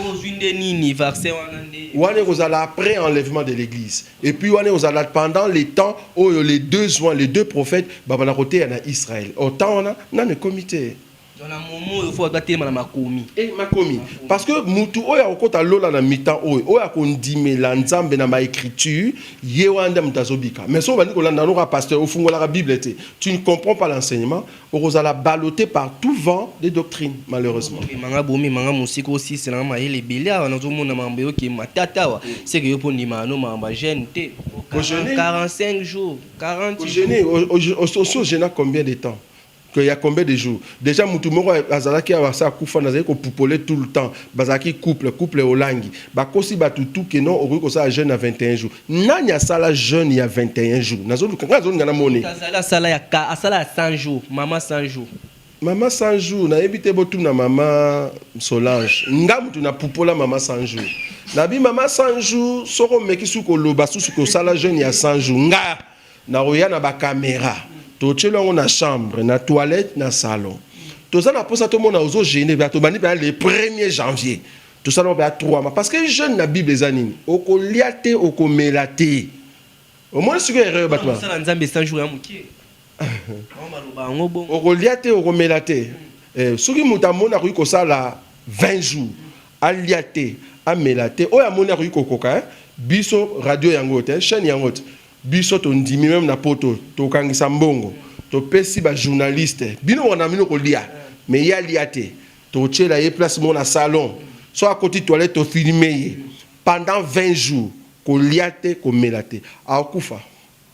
Wane kozala après enlèvement de l'église. Et puis wane kozala pendant les temps où les deux soins, les deux prophètes, babana côté en Israël. Au temps on a, n'a ne comité. Dans la momo, il faut abattre ma makomi. Eh, makomi. Parce que mutu oya okota lola na mitan oyo, oya kondime la nzambe na ma écriture, yewanda mtazobika. Mais so bandi kolanda loka pasteur, ofungolaka Bible te. Tu ne comprends pas l'enseignement. Okozala ballote par tout vent de doctrine malheureusement. Mema nga bo mema nga mosika osisela nga mayele ebele awa nazo mona makambo yo ke matata awa se ke yo mpo ondimaka no makambo ya jeune te Ko jeune? 45 jours 40 Ko jeune jours o- o- o- osi ojena combien de temps Que ya combien de jours dejà mutu moko azalaki awa asi akufa nazali ko pupole tout le temps bazalaki couple couple olangi bakosi batu tout que non okoki kosala jeune na 21 jours Nani asala jeune ya 21 jours nazoluka nga nazolinga na mone azali asala ya ka asala ya 100 jours mama 100 jours mama 100 jours nayebi te botuna mama solange nga motu na pupola mama 100 jours nabi mama 100 jours soko omeki suki koloba susu kosala jeune ya 100 jours nga nakoya na bakamera totyeli yango na chambre na toilette na salon toza na mposa tomona ozo gene bato bandi baya le 1er janvier Tosala mabe ya trois ma parce que jeune na bible eza nini okolia te okomela te omoni sikoyo erreur bato ba- Sala nzambe 100 jours ya mukie. Mama maloba yango bongo. okolia te okomela te eh, soki moto amoni akoki kosala 20 jours alia te amela te oyo amoni akoki kokoka eh? biso radio yango te chaîne yango te biso tondimi meme na poto tokangisa mbongo topesi bajournaliste bino wana bino kolia me ye alia te Totyela ye place moko na salon, soki akoti toilette to filmer ye pendant 20 jours, kolia te, komela te, akokufa.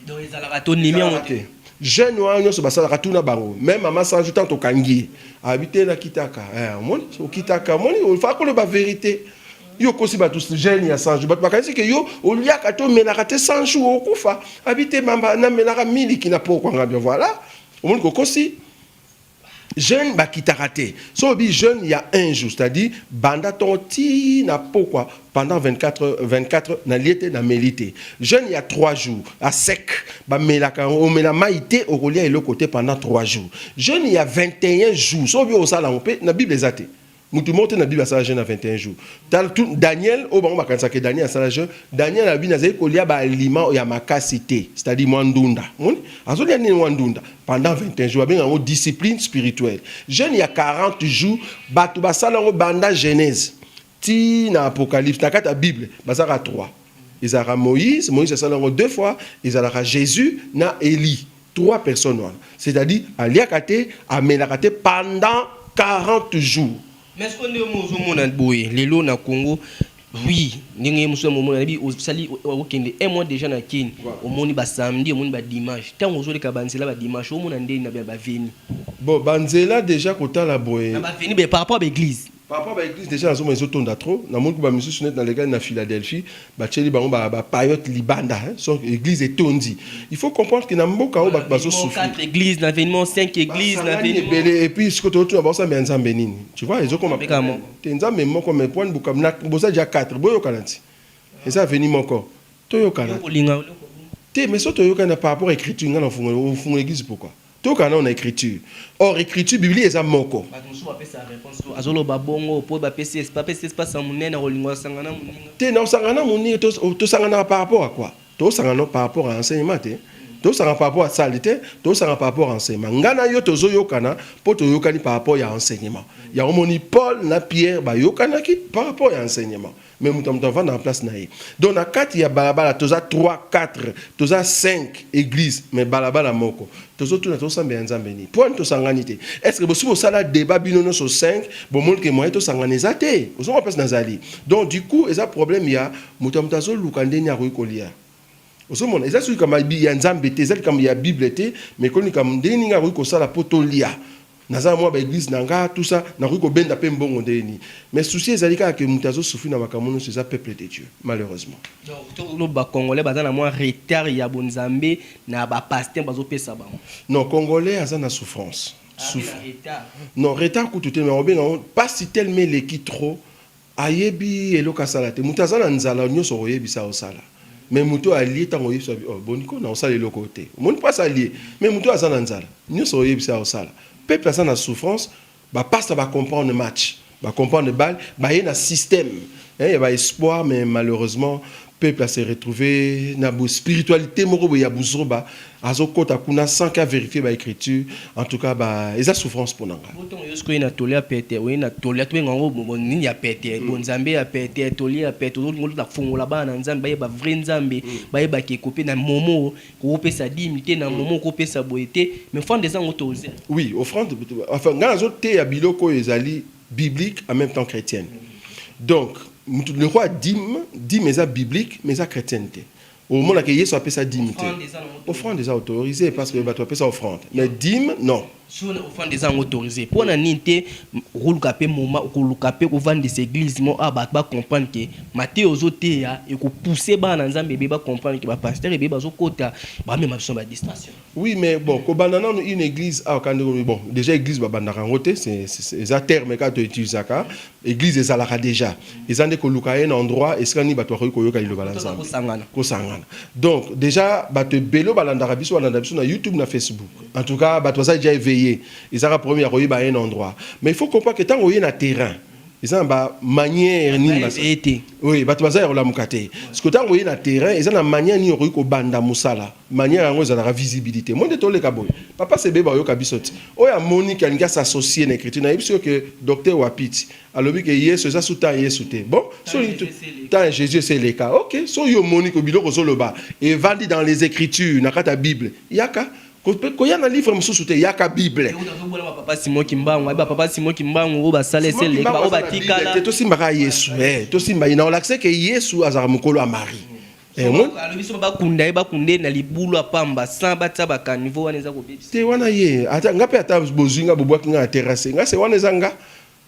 Donc ezalaka to ndimi yango te. Jeune wana nyoso basalaka tuna bango. Même maman Sanju tant tokangi ye. Abite na kitaka. Eh, omoni okitaka, omoni ofa koloba verite. Yo kosi batu jeune ya Sanju. Batu bakanisi ke yo oliaka to melaka te Sanju okufa. Abite mamba na melaka miliki na poko ngabia voilà. Omoni kokosi. jeune bakitaka te so obi jeune ya un jour c'est-à-dire banda ntongo ti na pokwa pendant 24 heures, 24 heures na lie te na meli te jeune ya 3 jours a sec bamelaka yango omela mai te okolia eloko te pendant 3 jours jeune ya 21 jours so obi osala yango mpe na bible eza te Mutu moko te na bible asala jeune ya 21 jours. Tala tout Daniel oyo bango bakanisaka ke Daniel asala jeune. Daniel alobi nazali kolia ba aliments ya makasi te. C'est à dire mwa ndunda. Omoni? Azolia nini mwa ndunda pendant 21 jours. Babenga yango discipline spirituelle. Jeune ya 40 jours batu basala yango banda Genese ti na Apocalypse na kati ya bible bazalaka 3. Ezalaka Moïse, Moïse asala yango deux fois, ezalaka Jesus na Elie. Trois personnes wana c'est à dire aliaka te amelaka te pendant 40 jours. Mais sikoyo ndenge mo ozo mona boye lelo na Congo oui ndenge ye mosusu momona nabi osali okende un mois dejà na Kin omoni ba samedi omoni ba dimanche ntango ozo leka ba nzela ba dimanche omona ndeni na ba veni bon ba nzela dejà kotala boye na ba veni par rapport ba eglise Papa ba eglise dejà nazomona ezo tonda trop na moni ba misusu net na lekali na Philadelphie ba tieli bango ba ba payote libanda hein son eglise etondi il faut comprendre que na mboka oyo bato bazo souffrir 4 eglise na venimont 5 eglise na venimont ebele et puis siko totuna ba sambela nzambe nini tu vois ezo koma mbeka mo te nzambe moko mais point buka na boza dejà 4 boyokana ti eza veni moko toyokana kolinga te mais so toyokana par rapport à écriture nga na fungola ofungola eglise pourquoi Toyoka nano na ecriture. Or ecriture biblia eza moko. Bato mosusu bapesa reponse to azoloba bongo po bapesi esp bapesi espace ya monene ya kolinga osanga na moninga. Te na osanga na moninga to tosanganaka par rapport à quoi? Tozosanga no par rapport à enseignement te, tozosanga par rapport à salle te, tozosanga par rapport à enseignement. Nga na yo tozoyokana po toyokani par rapport ya enseignement. Yango omoni Paul na Pierre bayokanaki par rapport ya enseignement. mais moto na moto avanda na place na ye donc na kati ya balabala toza 3 4 toza 5 église mais balabala moko tozotuna tosambela nzambe nini mpo ani tosangani te est ce que bosi bosala débat bino nyonso 5 bomoni ke moyen tosangana eza te ozonga place nazali donc du coup eza problème ya moto ya moto azoluka nde nini akoki kolia ozomona eza soki likambo ya nzambe te eza likambo ya bible te mais ekoni likambo nde nini akoki kosala mpo tolia naza na mwa ba eglise na nga tout ça nakoki kobenda pe mbongo ndenge nini mais souci ezali kaka ke moto azo souffrir na makambo nyonso eza peuple de Dieu malheureusement donc to loba ba congolais baza na mwa retard ya bonzambe na ba pasteur bazo pesa bango non congolais aza na souffrance ah, souffre non retard kutu te mais obenga pasi tellement eleki trop Ayebi eloko asala te mutu aza na nzala nioso okoyebisa osala mais mutu oyo alie tango oyebisa oh boni ko na osala eloko oyo te omoni pasi alie mais mutu oyo aza na nzala nioso oyebisa osala peuple aza na souffrance ba pasta ba comprendre match ba comprendre balle baye na système hein ya ba espoir mais malheureusement Peuple a se retrouve na bo spiritualite moko boye ya buzoba, azo kota kuna sans que a verifier ba ecriture, en tout cas ba eza souffrance pona nga. Bo tongo nioso koyina toli ya pete, oyina toli ya tobenga yango bo nini ya pete, bo nzambe ya pete, toli ya pete, ozo linga oluta kofongola bana na nzambe bayeba vrai nzambe, bayeba ke kope na momo koko pesa dime te, na momo koko pesa boye te, mais offrande eza yango toze. Oui offrande, enfin nga nazo teya biloko oyo ezali biblique en même temps chrétienne donc mutu lokwa dime dime eza biblique mais eza chrétienne te omona ke yesu apesa dime te offrande eza autorisé parce que bato bapesa offrande mais dime non soni ofanda eza yango autorise mpo na nini te okoluka mpe moma okoluka mpe kovandisa eglise mo a bato bacomprendre ke mateya ozoteya ekopousse bana na nzambe ebeye bacomprendre ke bapastere ebeye bazokota bamema biso na badistraction Oui mais bon kobanda nanu une eglise awa ka ndenge olobi bon dejà eglise babandaka yango te eza terme kaka to utilisaka eglise ezalaka dejà eza nde koluka un endroit esika nini bato bakoki koyoka liloba la nzambe kosangana donc dejà bato ebele balandaka biso balanda biso na youtube na facebook en tout cas bato baza dejà éveillé ezaka problème ya koyeba un endroit mais il faut comprendre que ntango oye na terrain eza na bamanière nini oye bato baza ya kolamuka te sikoyo ntango oye na terrain eza na manière nini okoki kobanda mosala Manière yango ezalaka visibilite monde toleka boye papa sebe ba oyoka biso ti oyo amoni ke alingi a s'associer na ecriture na yebisi yo ke docteur wapiti alobi ke yesu eza su temps ya yesu te bon so olingi tu temps ya jesus esi eleka ok so yo omoni ke biloko ozo loba evandi dans les ecritures na kati ya bible yaka koya na livre mosusu te yaka bible papa simon kimbangu ayeba papa simon kimbangu oyo basala esi eleka oyo batikala te tosimba ka yesu eh tosimba ye na olakise ke yesu azalaka mokolo ya marie Eh, mon... alobi soki bakunda ye bakunda ye na libulu apamba sans batia bakanivo wana eza kobebisa te wana ye ata nga mpe ata bozwi nga bobwaki nga na terrasse nga se wana eza nga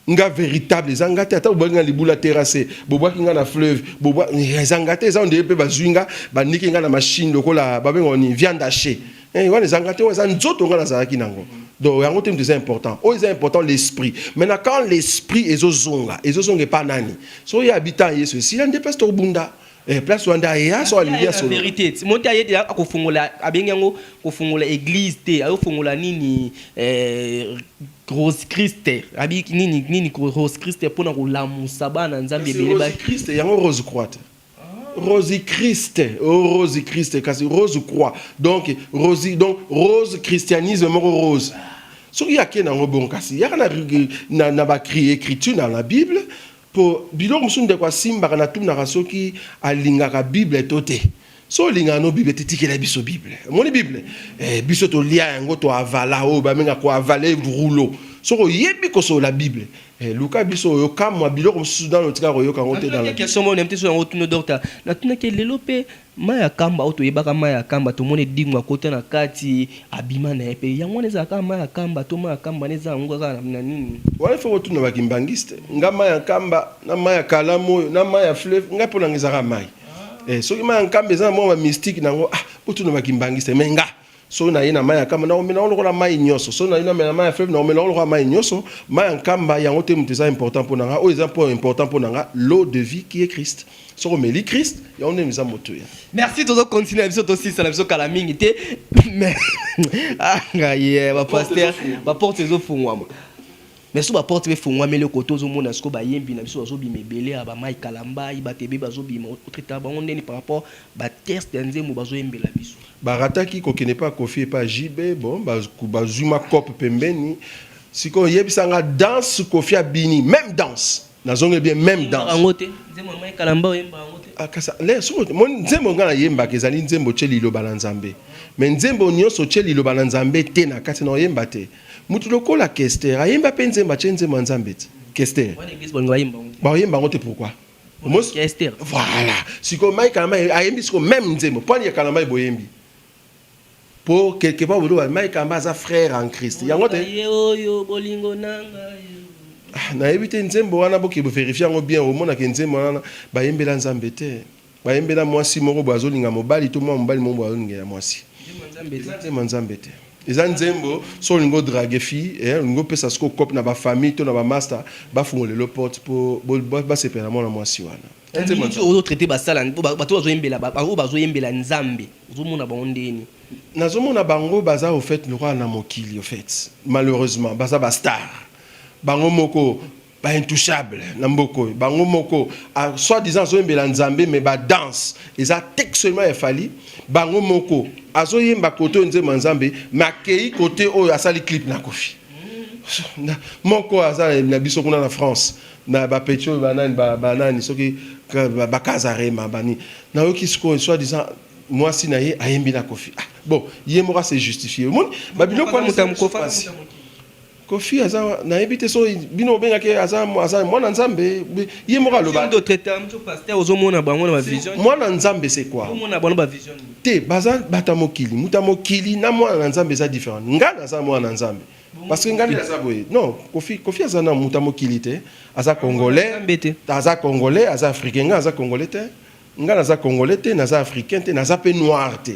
nga véritable eza nga te ata bobwaki nga libulu ya terrasse bobwaki nga na fleuve bobwa eh, eza nga te eza ondeye mpe bazwi nga baniki nga na machine lokola babenga ni viande hache eh, wana eza nga te wana eza nzoto nga nazalaki nango donc yango te moto eza important oyo eza important l'esprit maintenant quand l'esprit ezozonga ezozonga epa nani soki ye abita yesu esila nde place tokobunda Eh, place wanda aya so alingi asolo verite monte aye deja akofongola abengi yango kofongola église te ayofongola nini eh, rose christe abi nini nini ko- rose christe mpona kolamusa bana nzambe ebele ba Rose Christ yango rose croix te rose christ oh, rose christ kasi rose croix donc rose donc rose christianisme moko rose soki ake nango bon kasi yaka na, na, na bakri écriture na la bible Po biloko mosusu ndeko asimbaka na tunaka soki alingaka bible to te. Soki olingaka no bible te tikela biso bible. Omoni bible? Eh, biso tolia yango to avala oyo ba menga ko avale rouleau. Soki oyebi kosolola bible, eh, luka biso oyo kamwa biloko mosusu nano tika koyoka yango te dans la Natunaki question moko nayebi te soki yango otuni yo docta. Natunaki ye lelo pe Mai ya kamba oyo toyebaka mai ya kamba tomoni edingwa akota na kati abima na ye pe yango wana ezala kaka mai ya kamba to mai ya kamba nde eza yango kaka na nini. Wana il faut kotuna ba kimbanguiste nga mai ya kamba na mai ya kalamu oyo na mai ya fleuve nga pona nga eza kaka mai eh soki mai ya kamba eza na mua ba mystique na yango ah botuna ba kimbanguiste mais nga Soki naye na mai ya kamba, nakomela yango lokola mai nyonso. Soki naye namela mai ya fleuve, nakomela yango lokola mai nyonso. Mai ya nkamba yango te moto eza important mpo na nga. Oyo eza mpo important mpo na nga, l'eau de vie qui est Christ. Soki omeli Christ, yango nde eza motuya. Merci, tozo continuer na biso, tosilisa na biso kala mingi te. Mais ah ngai eh, ba pasteur, ba porte ezo fungwama. Mais so ba porte pe fungwami le koto ozo mona siko ba yembi na biso bazo bima ebele ya ba Mike Kalamba, ba tebe bazo bima, otreta bango ndeni par rapport ba test ya nzembo bazo yembela biso. Ba rataki ko kende epa koffi epa JB bon ba zui ma coop pembeni sikoyo yebisa nga danse koffi a bini meme danse na zongeli bien meme danse Oyembaka yango te nzembo ya Mike Kalambay oyembaka yango te Ah, kasa le soko mon nzembo nga na yembaka ezali nzembo tye liloba na nzambe me nzembo nyonso tye liloba na nzambe te na kati na oyemba te mutu lokola kester ayemba mpe nzembo atye nzembo ya nzambe te kester Wana eglise balinga bayemba yango te. baoyemba yango te pourquoi Mos- ya Esther. voilà sikoyo mai kalambay ayembi sikoyo meme nzembo mpo ya kalambay boyembi mpo quelque part boloba mai kalambay aza frère en christ yango te Ye oyo bolingo na ngai. Ah, nayebi te nzembo wana boke boverifie yango bien omonaka nzembo wana bayembela nzambe te bayembela mwasi moko boye azolinga mobali to mwa mobali moko boye azolingela mwasi Nzembo ya Nzambe te. eza nzembo ya nzambe te Eza nzembo so olingi o drague fille eh, olingi opesa siko cope na ba famille to na ba masta bafungola lelo porte po basepela na mwana mwasi wana. Eza nzembo ya nzambe. Ozo traite ba sala bato bazo yembela ba oyo bazo yembela nzambe ozo mona bango ndeni? Nazo mona bango baza au fait lokola na mokili au fait malheureusement baza ba star bango moko ba intouchable na mboka oyo bango moko ah, soit disant azoyembela nzambe mais ba danse eza textuellement ya fali bango moko azoyemba kote oyo nzembo ya nzambe mais akei kote oyo asali clip na kofi moko aza na biso kuna na france na bapeti oyo banani banani soki bakaza rema bani nayoki sikoyo soit disant mwasi na ye ayembi na kofi ah, bon ye moko ase justifie omoni babiloko wana Koffi aza nayebi te so bino obengaki ye aza aza mwana nzambe ye moko aloba Sindo traiteur mtu pasteur ozomona bango na ba vision mwana nzambe c'est quoi ozomona bango ba vision nini? te baza bata mokili moto ya mokili na mwana na nzambe eza different ngai naza mwana na nzambe parce que ngai nde naza boye non kofi kofi aza na moto ya mokili te aza congolais Nzambe te. aza congolais aza africain ngai naza congolais te ngai naza congolais te naza africain te naza mpe noir te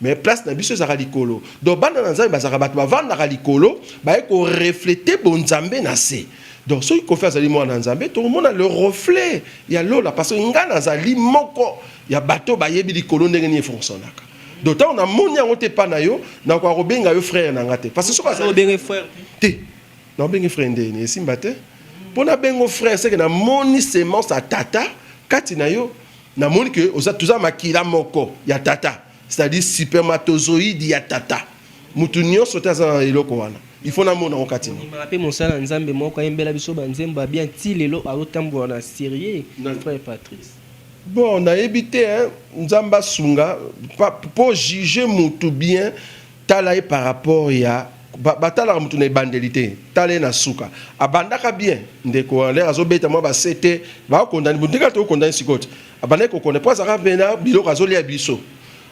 mais place na biso ezalaka likolo donc bana na nzambe bazalaka bato bavandaka likolo baye koreflete bonzambe na se donc soki kofi azali mwana na nzambe tokomona le reflet ya lola parce que ngai nazali moko ya bato bayebi likolo ndenge nini efonctionnaka donc ntango namoni yango te epai na yo nakoka kobenga yo frère na ngai te parce que soki azali frère te naobenge frère ndeni esimba te mpo nabengo frère seke namoni semence ya tata kati na yo Na moni que oza toza makila moko ya tata, c'est-à-dire supermatozoïde ya tata. Mutu nionso te aza na eloko wana. Il faut na mona ngo kati. Ndimaka pe mosala nzambe moko ayembela biso ba nzembo ya bien ti lelo azo tambola na serieux frère Patrice. Bon nayebi te hein nzambe asunga po juger mutu bien. Tala ye par rapport ya ba talaka mutu na ebandeli te tala ye na suka abandaka bien ndeko a l'air azo beta mwa ba sete ba kondani mutu ndenge ato kondani sikoyo te abandaki ko konda po azalaka pena biloko azo lia biso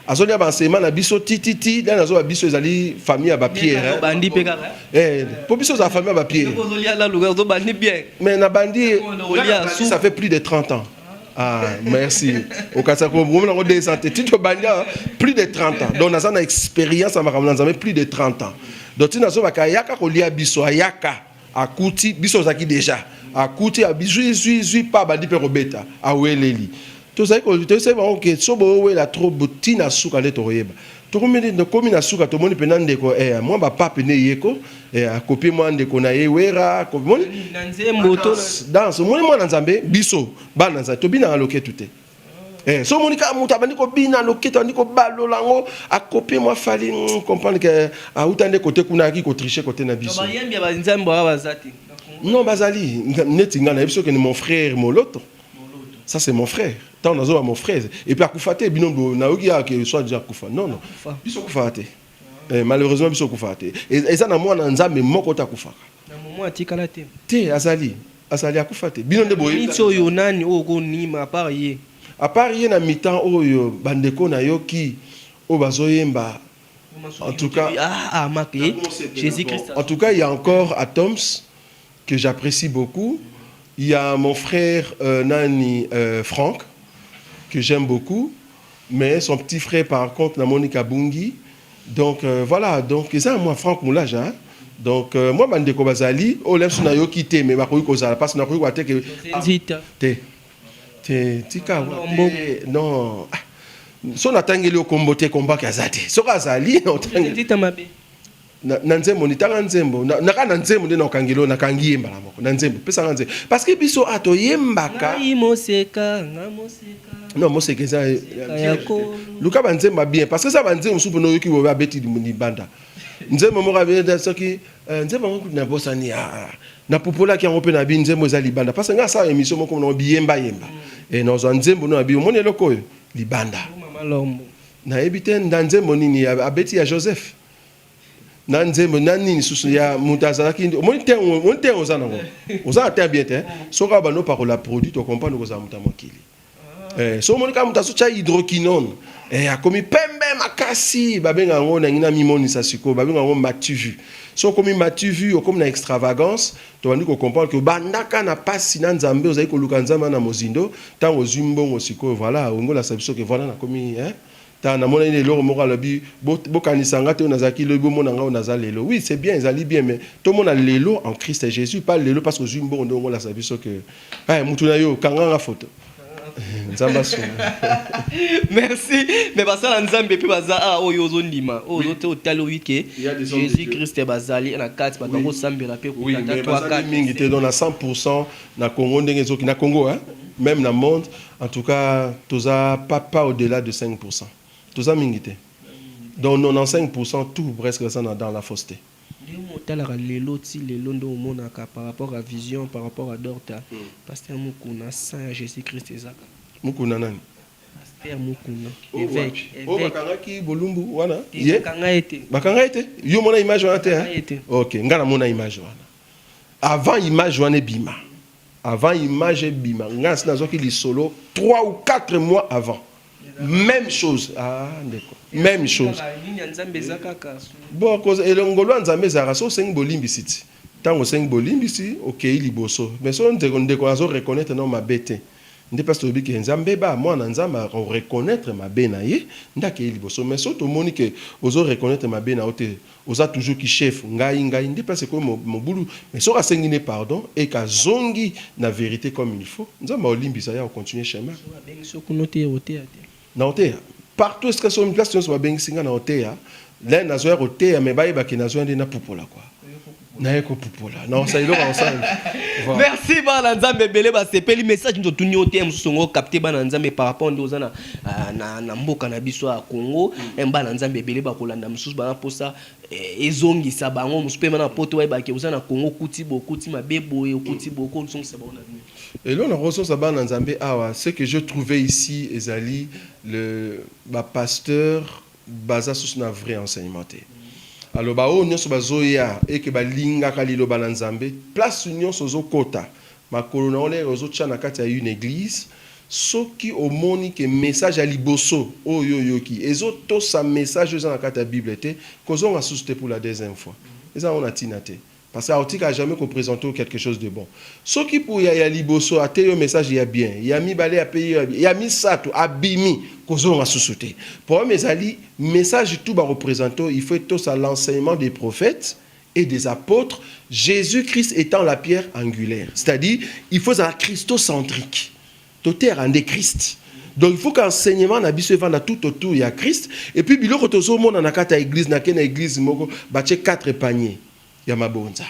azo lia ba enseignement na biso ti ti ti dani azo ba biso ezali famille ya ba pierre eh bandi pe kaka eh po biso za famille ya ba pierre ozo lia la luka ozo bandi bien mais na bandi ça fait plus de 30 ans Ah, merci. Au Katsako, vous avez des santé. Tu te banga plus de 30 ans. Donc, nous avons une expérience à Makamanzame, plus de 30 ans. Donc, tu n'as pas yaka kolia biso yaka akuti biso zaki déjà akuti a bizui zui zui pa bandi pe kobeta aweleli tozali ko tozali bango ke so boowela trop botina suka nde tokoyeba Tokomeli tokomi na suka tomoni pena ndeko eh, mwa ba pape ne yeko eh, akopi mwa ndeko na ye wera komoni na nzembo to danse omoni mwana nzambe biso bana nzambe tobinaka loketu te eh, so omoni kaka moto abandi kobina loketu abandi kobalola yango akopi mwa fali mm, comprendre ke eh, auta nde kote kuna ayaki kotriche kote na biso bayembi ya banzambe wana baza te non bazali neti ngai na yebi soki ni mon frère moloto Ça c'est mon frère. Tant nazo mon frère. Et puis akufa te bino bo na yoki ya que soit déjà akufa. Non non. Biso kufa te. Eh, malheureusement biso kufa te. Et ça na mwana nzambe moko ta kufa. Na momo atikala te. Te azali. Azali akufa te. Bino nde boye. Nitso yo nani oyo ko nima à part ye. À part ye na mitan oyo bandeko na yo ki oyo bazoyemba en tout cas ah, ah, ah, eh, Jésus Christ. En tout cas, il y a encore Atoms que j'apprecie beaucoup il ya mon frère euh, nani euh, Franck que j'aime beaucoup mais son petit frère par contre na Monica Bungi donc euh, voilà donc eza moi Franck Moulaja hein? donc euh, moi bandeko bazali oyo lemsu nayoki te mais bakoki kozala mpasi nakoki koya te ke ah, te te tika te non ah, so natangeli yo kombo te kombaki aza te soki azali otangeli na, na nzembo nitanga nzembo na, na kaka na nzembo nde nakangelo nakangi ye mbala moko na nzembo pesa nga nzembo parce que biso a toyembaka moseka nga moseka non moseka eza luka banzembo ya bien parce que eza banzembo mosusu mpona oyoki bobe abeti libanda nzembo moko abeta soki eh, nzembo yango kutu nabosani ah, ah. napupolaki yango mpe na bi nzembo eza libanda parce que nga asala émission moko monango biyembayemba mm. e eh, nazwa nzembo no na bi omoni eloko oyo libanda nayebi te nda nzembo nini abeti ya joseph na nzembo na nini susu ya moto azalaki omoni te omoni te oza nango oza na te bien te soki awa bando pakola produit to comprendre kozala moto ya mokili ah. eh, so omoni kaka moto azotya hydroquinone eh, akomi pembe makasi babenga yango nangi na mimonisa sikoyo babenga yango mativu so okomi mativu okomi na extravagance tobandi kocomprendre ke obandaka na mpasi na nzambe ozali koluka nzambe na mozindo ntango ozwi mbongo sikoyo voilà ongolasabisa ke voilà nakomi eh? Tala namonani na eloko moko alobi bo, bokanisa nga te oyo nazalaki lobi bomona nga oyo naza lelo. Oui, c'est bien ezali bien mais tomona lelo en Christ Jesus pas lelo parce que ozui mbongo nde ongolasa biso que eh mutu na yo kanga nga photo. Nzambe asunga. Merci. Mais basala Nzambe pe baza a oyo ozo ndima. Oyo ozo te otali oyi ke Il y a des hommes de Jésus Dieu. Christ bazali na kati bato Oui. yango sambela pe Oui, kutata mais toi bazali kati. mingi te donc na 100% na Congo ndenge ezoki na Congo hein, même na monde En tout cas toza pas pas au delà de 5 pour 100 toza mingi te donc 95 pour 100 tout presque baza na dans la fosse te. Ndenge otalaka lelo ti lelo nde omonaka par rapport ya vision par rapport ya dorta pasteur mukuna sang ya jesus christ eza kaka. Mukuna nani? Pasteur mukuna eveque oyo bakangaki bolumbu wana ye bakanga ye te bakanga ye te yo omona image wana te hein ok nga namona image wana avant image wana ebima Avant image ebima nga nasi nazwaki lisolo trois ou quatre mois avant meme chose ah ndeko meme chose Nini ya Nzambe eza kaka. bon koza ele ngolu ya nzambe ezalaka so osengi bolimbisi ti ntango osengi bolimbisi okei liboso mais so ndeko ndeko azo reconnaitre nao mabe te nde place tolobi ke nzambe ba mwana na nzambe ako reconnaitre mabe na ye nde akei liboso mais so tomoni ke ozo reconnaitre mabe na yo te Oza toujours ki chef ngai ngai nde place ekomi mobulu mais soki asengi nde pardon et ka zongi na verite comme il faut nzambe ako limbisa ye ako continuer chemin. Soki abengisi yo kuna oteya okoteya te? Nako teya partout esika soki place nionso ba bengisi nga nako teya nazo ya koteya mais ba yeba ke nazo ya nde na pupola quoi. naye kopupola naosa eloko aosala merci bana nzambe ebele basepeli message nto tuni yo te mosusu yango capte bana nzambe par rapport nde oza na, ah, na, na mboka na biso ya congo mm. bana nzambe ebele bakolanda mosusu bana mposa eh, ezongisa bango mosusu mpe bana poto bayebake oza na congo okuti bokuti mabe boye okuti boye okozongisa bango na nini eloko nakososa bana nzambe awa ce que je trouvé ici ezali le bapasteur Baza susu na vrai enseignement te alors ba oyo nionso bazoya et que balingaka liloba na Nzambe place nionso ozokota makolo na yo lere ozotia na kati ya une eglise soki omoni que message ya liboso oyo yo oyoki ezotosa message oyo eza na kati ya bible te kozonga susu te pour la deuxième fois eza nango na tina te. Pasteur otika jamais ko presenter yo quelque chose de bon soki puya ya liboso ateyi yo message ya bien ya mibale apeyi yo ya bien ya misatu abimi kozonga susu te problème ezali message tout bako presenter yo il faut etosa l'enseignement des prophètes et des apotres Jesus Christ etant la pierre angulaire c'est à dire il faut ezala christocentrique Toteyaka nde Christ. Donc il faut qu'enseignement na biso evanda tout autour ya Christ et puis biloko tozomona na kati ya église na ke na église moko batie 4 panier ya mabonza.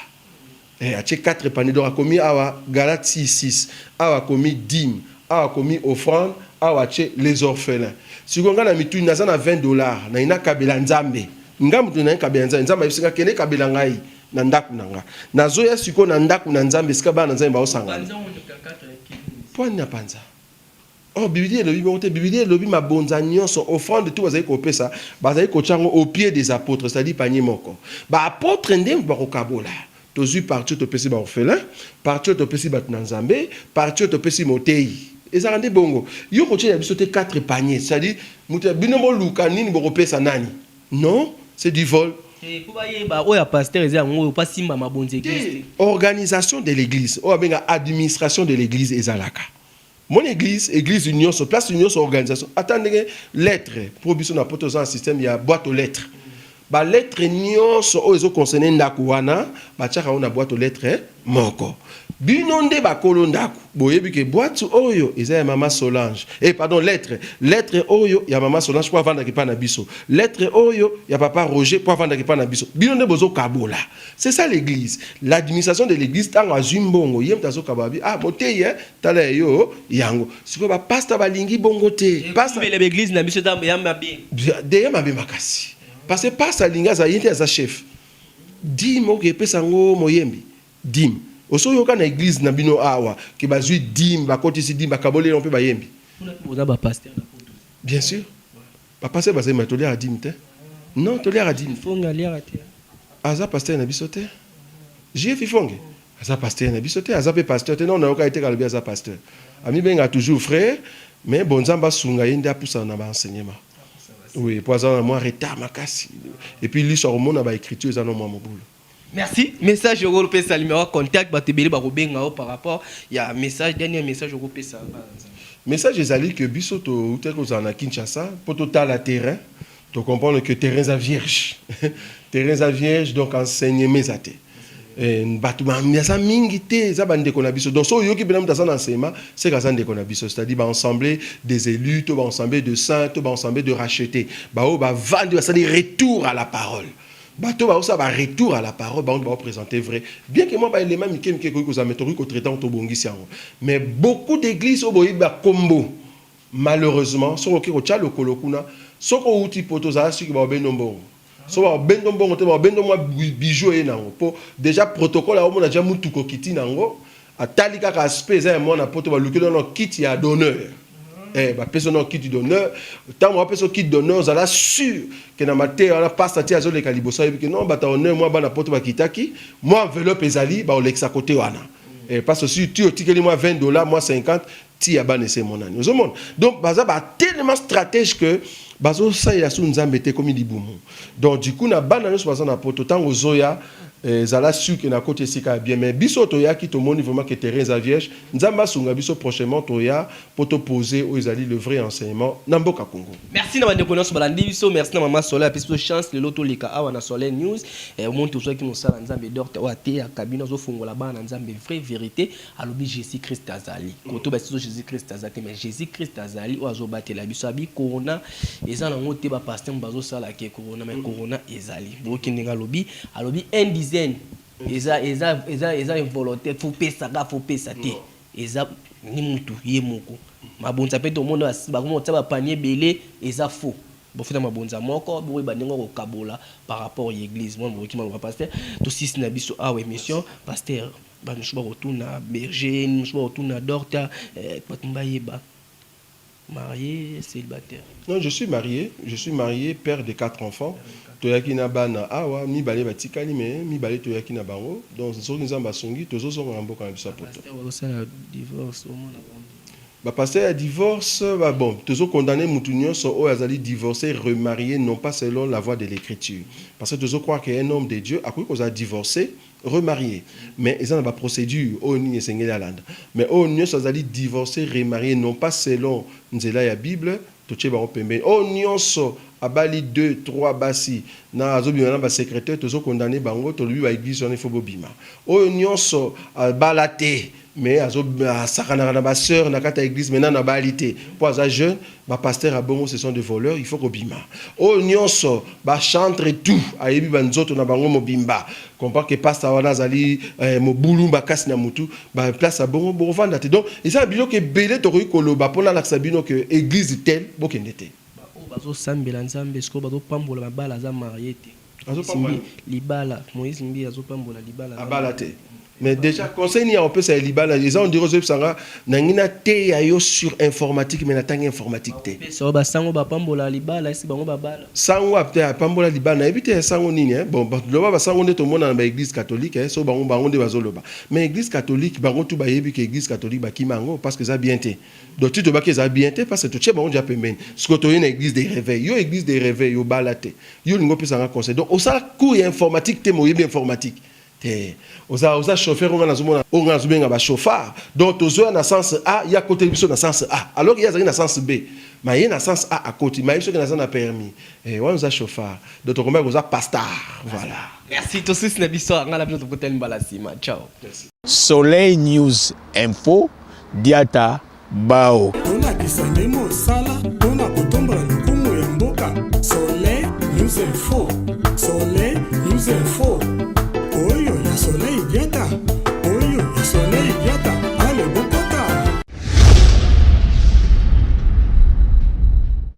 Eh, atie 4 panier donc akomi awa Galatie 6, awa akomi dîme, awa akomi offrande, awa atie les orphelins. Siko nga na mituni naza na 20 dollars na ina kabela Nzambe. Nga mutu na kabela Nzambe, Nzambe ayebi singa kende kabela ngai. na ndako na nga nazoya sikoyo na ndako na nzambe esika bana na nzambe baosangana pwani na panza Oh, Biblia elobi bongo te. Biblia elobi mabonza nyonso offrande tout bazali kopesa, bazali kotya yango au pied des apôtres, c'est-à-dire panier moko. Ba apôtres nde bakokabola. Tozwi partie topesi ba orphelins, partie topesi bato na Nzambe, partie topesi moteyi. Ezalaka nde bongo. Yo kotyela biso te quatre paniers, c'est-à-dire moto ya bino boluka nini bokopesa nani. Non, c'est du vol. Eh, po bayeba oyo ya pasteur eza yango oyo pa simba mabonzi eglise te organisation de l'église oyo abenga administration de l'église ezalaka mon église église nyonso place nyonso organisation ata ndenge lettre mpo biso na poto oza na système ya boîte aux lettres balettre nyonso oyo ezoconcerne ndako wana batiaka yango na boîte aux lettres moko bino nde ba kolo ndaku boyebi ke boite oyo eza ya mama Solange eh pardon lettre lettre oyo ya mama Solange po avandaki pa na biso lettre oyo ya papa Roger po avandaki pa na biso bino nde bozo kabola c'est ça l'église l'administration de l'église tango azui mbongo ye mutu azo kabola bi ah moteyi eh tala ya yo yango sikoyo ba pasta balingi bongo te pasta mbele ba eglise na biso eza ya mabe de ya mabe makasi parce que pasta alingi aza ye nde aza chef Dime ok pesa yango moyembi dime osi oyoka na eglise na bino awa ke bazui dime bakotisi dime bakaboli yango mpe bayembi Kuna mpe boza ba pasteur na poto te? bien sur ba pasteur bazali mai toliaka dime te non toliaka dime Fonge aliaka te? aza pasteur na biso te JF Ifonge aza pasteur na biso te aza mpe pasteur te non nayoka ye te kalobi aza pasteur amibengaka toujours frère mais bon nzambe asunga ye nde apusana na ba enseignement Oui, po aza na mwa retard makasi. Et puis liso akomona ba écriture eza na mwa mobulu. Merci. Message au groupe Salim wa contact ba tebele ba kobenga par rapport ya message dernier message au groupe Salim. Message ezali que biso to uta ko zana Kinshasa po to tala terrain to comprendre que terrain za vierge. terrain za vierge donc enseignement ezate. Eh, bato baza mingi te eza bandeko na biso donc so oyoki mpena moto aza na nsema seke aza ndeko na biso c'est-à-dire baensemble des élus to baensemble de saint to baensemble de racheté baoyo bavandi basali retour à la parole bato baosala baretour à la parole bango baopresente vrai bien ke mwa baelema mike mike ekoki kozala me tokoki kotraite yango tobongisi yango mais beaucoup d'église oyo boyebi bakombo Malheureusement soki oke kotia lokolo kuna soki owuti poto ozala suki baobendo mbongo so baobendo mbongo te baobendo mwa bijoux eye nango po dejà protocole aomona dejà mutuka okiti nango atali kaka aspect eza ya mwana poto balukeli yo nao kiti ya d'honneur eh bapesi yo nao kiti d'honneur tango bapesi yo kiti d'honneur ozala sur ke na mateya wana pasta ti azoleka liboso ayebi ke non bata honneur mwa bana poto bakitaki mwa enveloppe ezali baolekisa kote wana eh pasta osi ti otikeli mwa 20 dollars mwa 50 Ti ya bana esi emonani ozo mona donc baza ba tellement stratège que bazo salela su nzambe te ekomi libumu donc du coup na bana nionso baza na poto tango ozoya eh, zala sur que na koti esika ya bien mais biso toyaki tomoni vraiment que terrain eza vierge nzambe asunga biso prochainement toya po to poser oyo ezali le vrai enseignement na mboka Congo. Merci na bandeko nionso balandi biso merci na maman Soleil apesi biso chance lelo toleka awa na Soleil News eh, omoni tozwaki mosala nzambe docte oyo ateyaka bino azofungola bana na nzambe vrai verite alobi Jesus Christ azali koto basi zo Jesus Christ aza te mais Jesus Christ azali oyo azo batela biso abi corona eza na ngote ba pasteur bazo sala ke corona mais corona ezali boki ndenge alobi alobi un dizaine eza eza eza eza involontaire faut pesa ka faut pesa te eza ni mutu ye moko mabonza pe to mona basi ba mona ba panier belé eza faux bofina mabonza moko boye ba ndenge ko kabola par rapport ya eglise moi boki maloba pasteur to sisi na biso awa emission pasteur Batu mosusu bako tuna berger nini mosusu bako tuna dorta eh batu ba yeba marie celibataire. Non je suis marie je suis marie père de 4 enfants toyaki na bana awa mibale ba tikali mais mibale toyaki na bango donc soki nzambe asungi tozo zonga na mboka na biso ya poto. Ba pasteur bako sala divorce omona bango te. Ba pasteur ya divorce ba bon tozo condamne mutu nionso oyo azali divorce remarie non pas selon la voie de l'ecriture parce que tozo croire que un homme de Dieu akoki kozala divorce remarie mais eza na ba procedure oyo nini esengeli alanda mais oyo nionso azali divorce remarie non pas selon nzela ya bible totie bango pembeni oyo nionso abali deux trois basi na azobima na ba secretaire tozo condamne bango tolobi ba eglise wana il faut bobima oyo nionso abala te mais azo asakanaka na ba sœurs na kati ya eglise mais nanu abali te po aza jeune ba pasteur ya bongo ce sont des voleurs il faut kobima oyo nionso ba chantre tout ayebi ba nzoto na bango mobimba comprend que pasta wana azali eh, mobulu makasi na mutu ba place ya bongo bokovanda te donc eza na biloko ebele tokoki koloba po nalakisa bino que eglise tel bokende te baoyo bazosambela nzambe sikoyo bazopambola mabala aza marie te Asimbi libala Moïse Mbiye azo pambola libala abala te mais déjà conseil nini akopesa ya libala eza ondire ozoyebisa nga nangi nateya yo sur informatique mais natangi informatique te so basango bapambola libala esi bango babala sango apte apambola libala nayebi te sango nini eh? bon bato loba basango nde tomona na baeglise catholique eh? so bango bango nde bazoloba mais église catholique bango tu bayebi ke église catholique bakima yango parce que eza bien te donc ti tobaki eza bien te parce que totie bango deja pembeni siko toye na église de réveil yo église de réveil obala te Yo olingi opesa nga conseil donc osala cours ya informatique te mais oyebi informatique te oza oza chauffeur oyo nga nazomona oyo nga nazobenga ba chauffard donc tozoya na sens a ye akoteli biso na sens a alors ye azali na sens b ma ye na sens a akoti ma ye soki naza na permis eh, wana oza chauffard donc tokomaki koza pastar voilà merci tosusi na biso nga na bino tokutani mbala nsima ciao soleil news info diata Bao. Tolakisa nde mosala mpo na kotombola lokumu ya mboka. Soleil News Info. Soleil News Info. Oyo ya Soleil Diata. Oyo ya Soleil Diata.